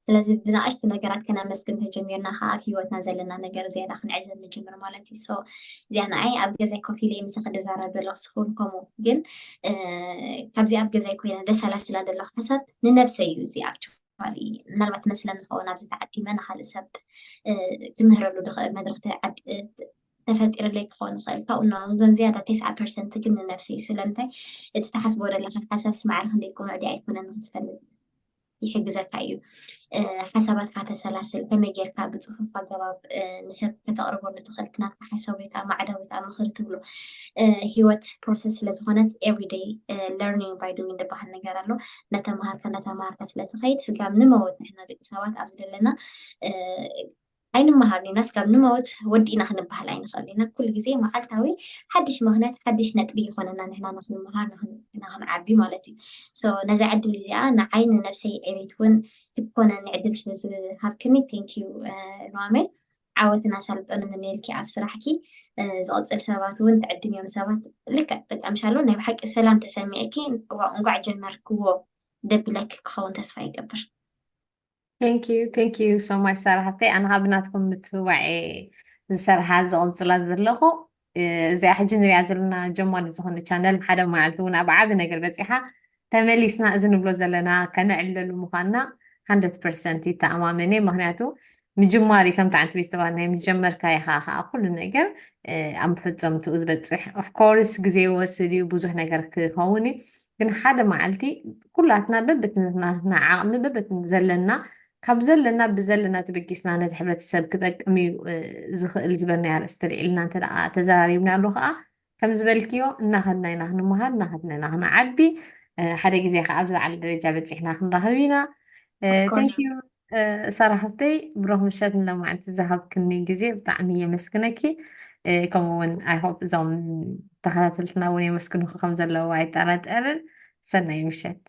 ስለዚ ብንኣሽቲ ነገራት ከነመስግን ተጀሚርና ከዓ ኣብ ሂወትና ዘለና ነገር ዝያዳ ክንዕዘብ ንጅምር ማለት እዩ ሶ እዚኣ ንዓይ ኣብ ገዛይ ኮፍ ኢለ ምሳኺ ድዛረብ ዘለኹ ስኹን ከምኡ ግን ካብዚ ኣብ ገዛይ ኮይነ ደሰላስላ ዘለኹ ሓሳብ ንነብሰይ እዩ እዚ ኣብቹ ምናልባት መስለን ንኸውን ኣብዚ ተዓዲመ ንካልእ ሰብ ክምህረሉ ድኽእል መድረኽ ተፈጢርለይ ክኸውን ይኽእል ካብኡ ንላዕሊ ግን ዝያዳ ተስዓ ፐርሰንት ግን ንነብሰይ እዩ ስለምንታይ እቲ ትሓስቦ ዘለኻ ሓሳብስ ማዕረ ክንደይ ቅኑዕ ድያ ኣይኮነን ንኽትፈልጥ ይሕግዘካ እዩ ሓሳባትካ ተሰላስል ከመይ ጌርካ ብፅፉፍ ኣገባብ ንሰብ ከተቕርበሉ ትኽእል ክናትካ ሓሳብ ወይ ከዓ ማዕዳ ወይ ከዓ ምኽሪ ትብሎ ሂወት ፕሮሰስ ስለዝኾነት ኤቭሪደይ ለርኒንግ ባይ ዱዊን ዝበሃል ነገር ኣሎ እንዳተምሃርካ እንዳተምሃርካ ስለትኸይድ ስጋብ ንመወት ንሕና ደቂ ሰባት ኣብዚ ዘለና ኣይንመሃርን ኢና ስጋብ ንመውት ወዲ ኢና ክንበሃል ኣይንኸእልን ኢና ኩሉ ግዜ መዓልታዊ ሓድሽ ምኽንያት ሓድሽ ነጥቢ ይኾነና ንሕና ንኽንመሃር ንኽንዓቢ ማለት እዩ ሶ ነዛ ዕድል እዚኣ ንዓይ ንነብሰይ ዕቤት እውን ክትኮነኒ ዕድል ስለ ዝሃብክኒ ቴንክ ዩ ሉዋመይ ዓወትን ኣሳልጦን ንምነየልኪ ኣብ ስራሕኪ ዝቕፅል ሰባት እውን ትዕድምዮም ሰባት ልክዕ በቃ ምሻሎ ናይ ብሓቂ ሰላም ተሰሚዕኪ እንኳዕ ጀመርክዎ ደብለኪ ክኸውን ተስፋ ይገብር ቴንክ ዩ ቴንክ ዩ ሶ ማች ሳራ ሃፍተይ ኣነ ካብ ናትኩም ምትብባዕ እየ ዝሰርሓ ዝቕፅላ ዘለኹ እ፣ እዚኣ ሕጂ ንሪኣ ዘለና ጀማሪ ዝኾነ ቻነል ሓደ መዓልቲ እውን ኣብ ዓቢ ነገር በፂሓ ተመሊስና እዚ ንብሎ ዘለና ከነዕልለሉ ምዃንና 100 ፐርሰንት ይተኣማመን እየ ምክንያቱ ምጅማር እዩ ከምቲ ዓንቲ ቤት ዝተባህለ ናይ ምጀመርካ ኢኻ ከዓ ኩሉ ነገር እ፣ ኣብ መፈፀምትኡ ዝበፅሕ ኦፍኮርስ ግዜ ይወስድ እዩ ብዙሕ ነገር ክኸውን እዩ ግን ሓደ መዓልቲ ኩላትና በብትና ዓቕሚ በብት ዘለና ካብ ዘለና ብዘለና ተበጊስና ነቲ ሕብረተሰብ ክጠቅም እዩ ዝኽእል ዝበልናይ ኣርእስቲ ልዒልና እንተ ተዘራሪብና ኣሎ ከዓ ከም ዝበልክዮ እናኸድና ኢና ክንመሃር እናኸድና ኢና ክንዓቢ ሓደ ግዜ ከዓ ኣብዚ ለዓለ ደረጃ በፂሕና ክንረኽብ ኢና ሳራ ሓፍተይ ብሩኽ ምሸት ንሎማዕንቲ ዝሃብክኒ ግዜ ብጣዕሚ የመስግነኪ ከምኡ እውን ኣይሆፕ እዞም ተኸታተልትና እውን የመስግኑኪ ከም ዘለዉ ኣይጠራጠርን ሰናይ ምሸት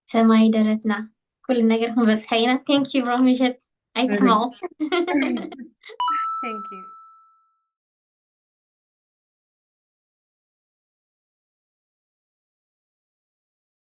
ሰማይ ደረትና ኩሉ ነገር ክንበፅሖ ኢና ቴንክ ዩ ብሩኽ ምሸት ኣይትሕመቑ Thank you.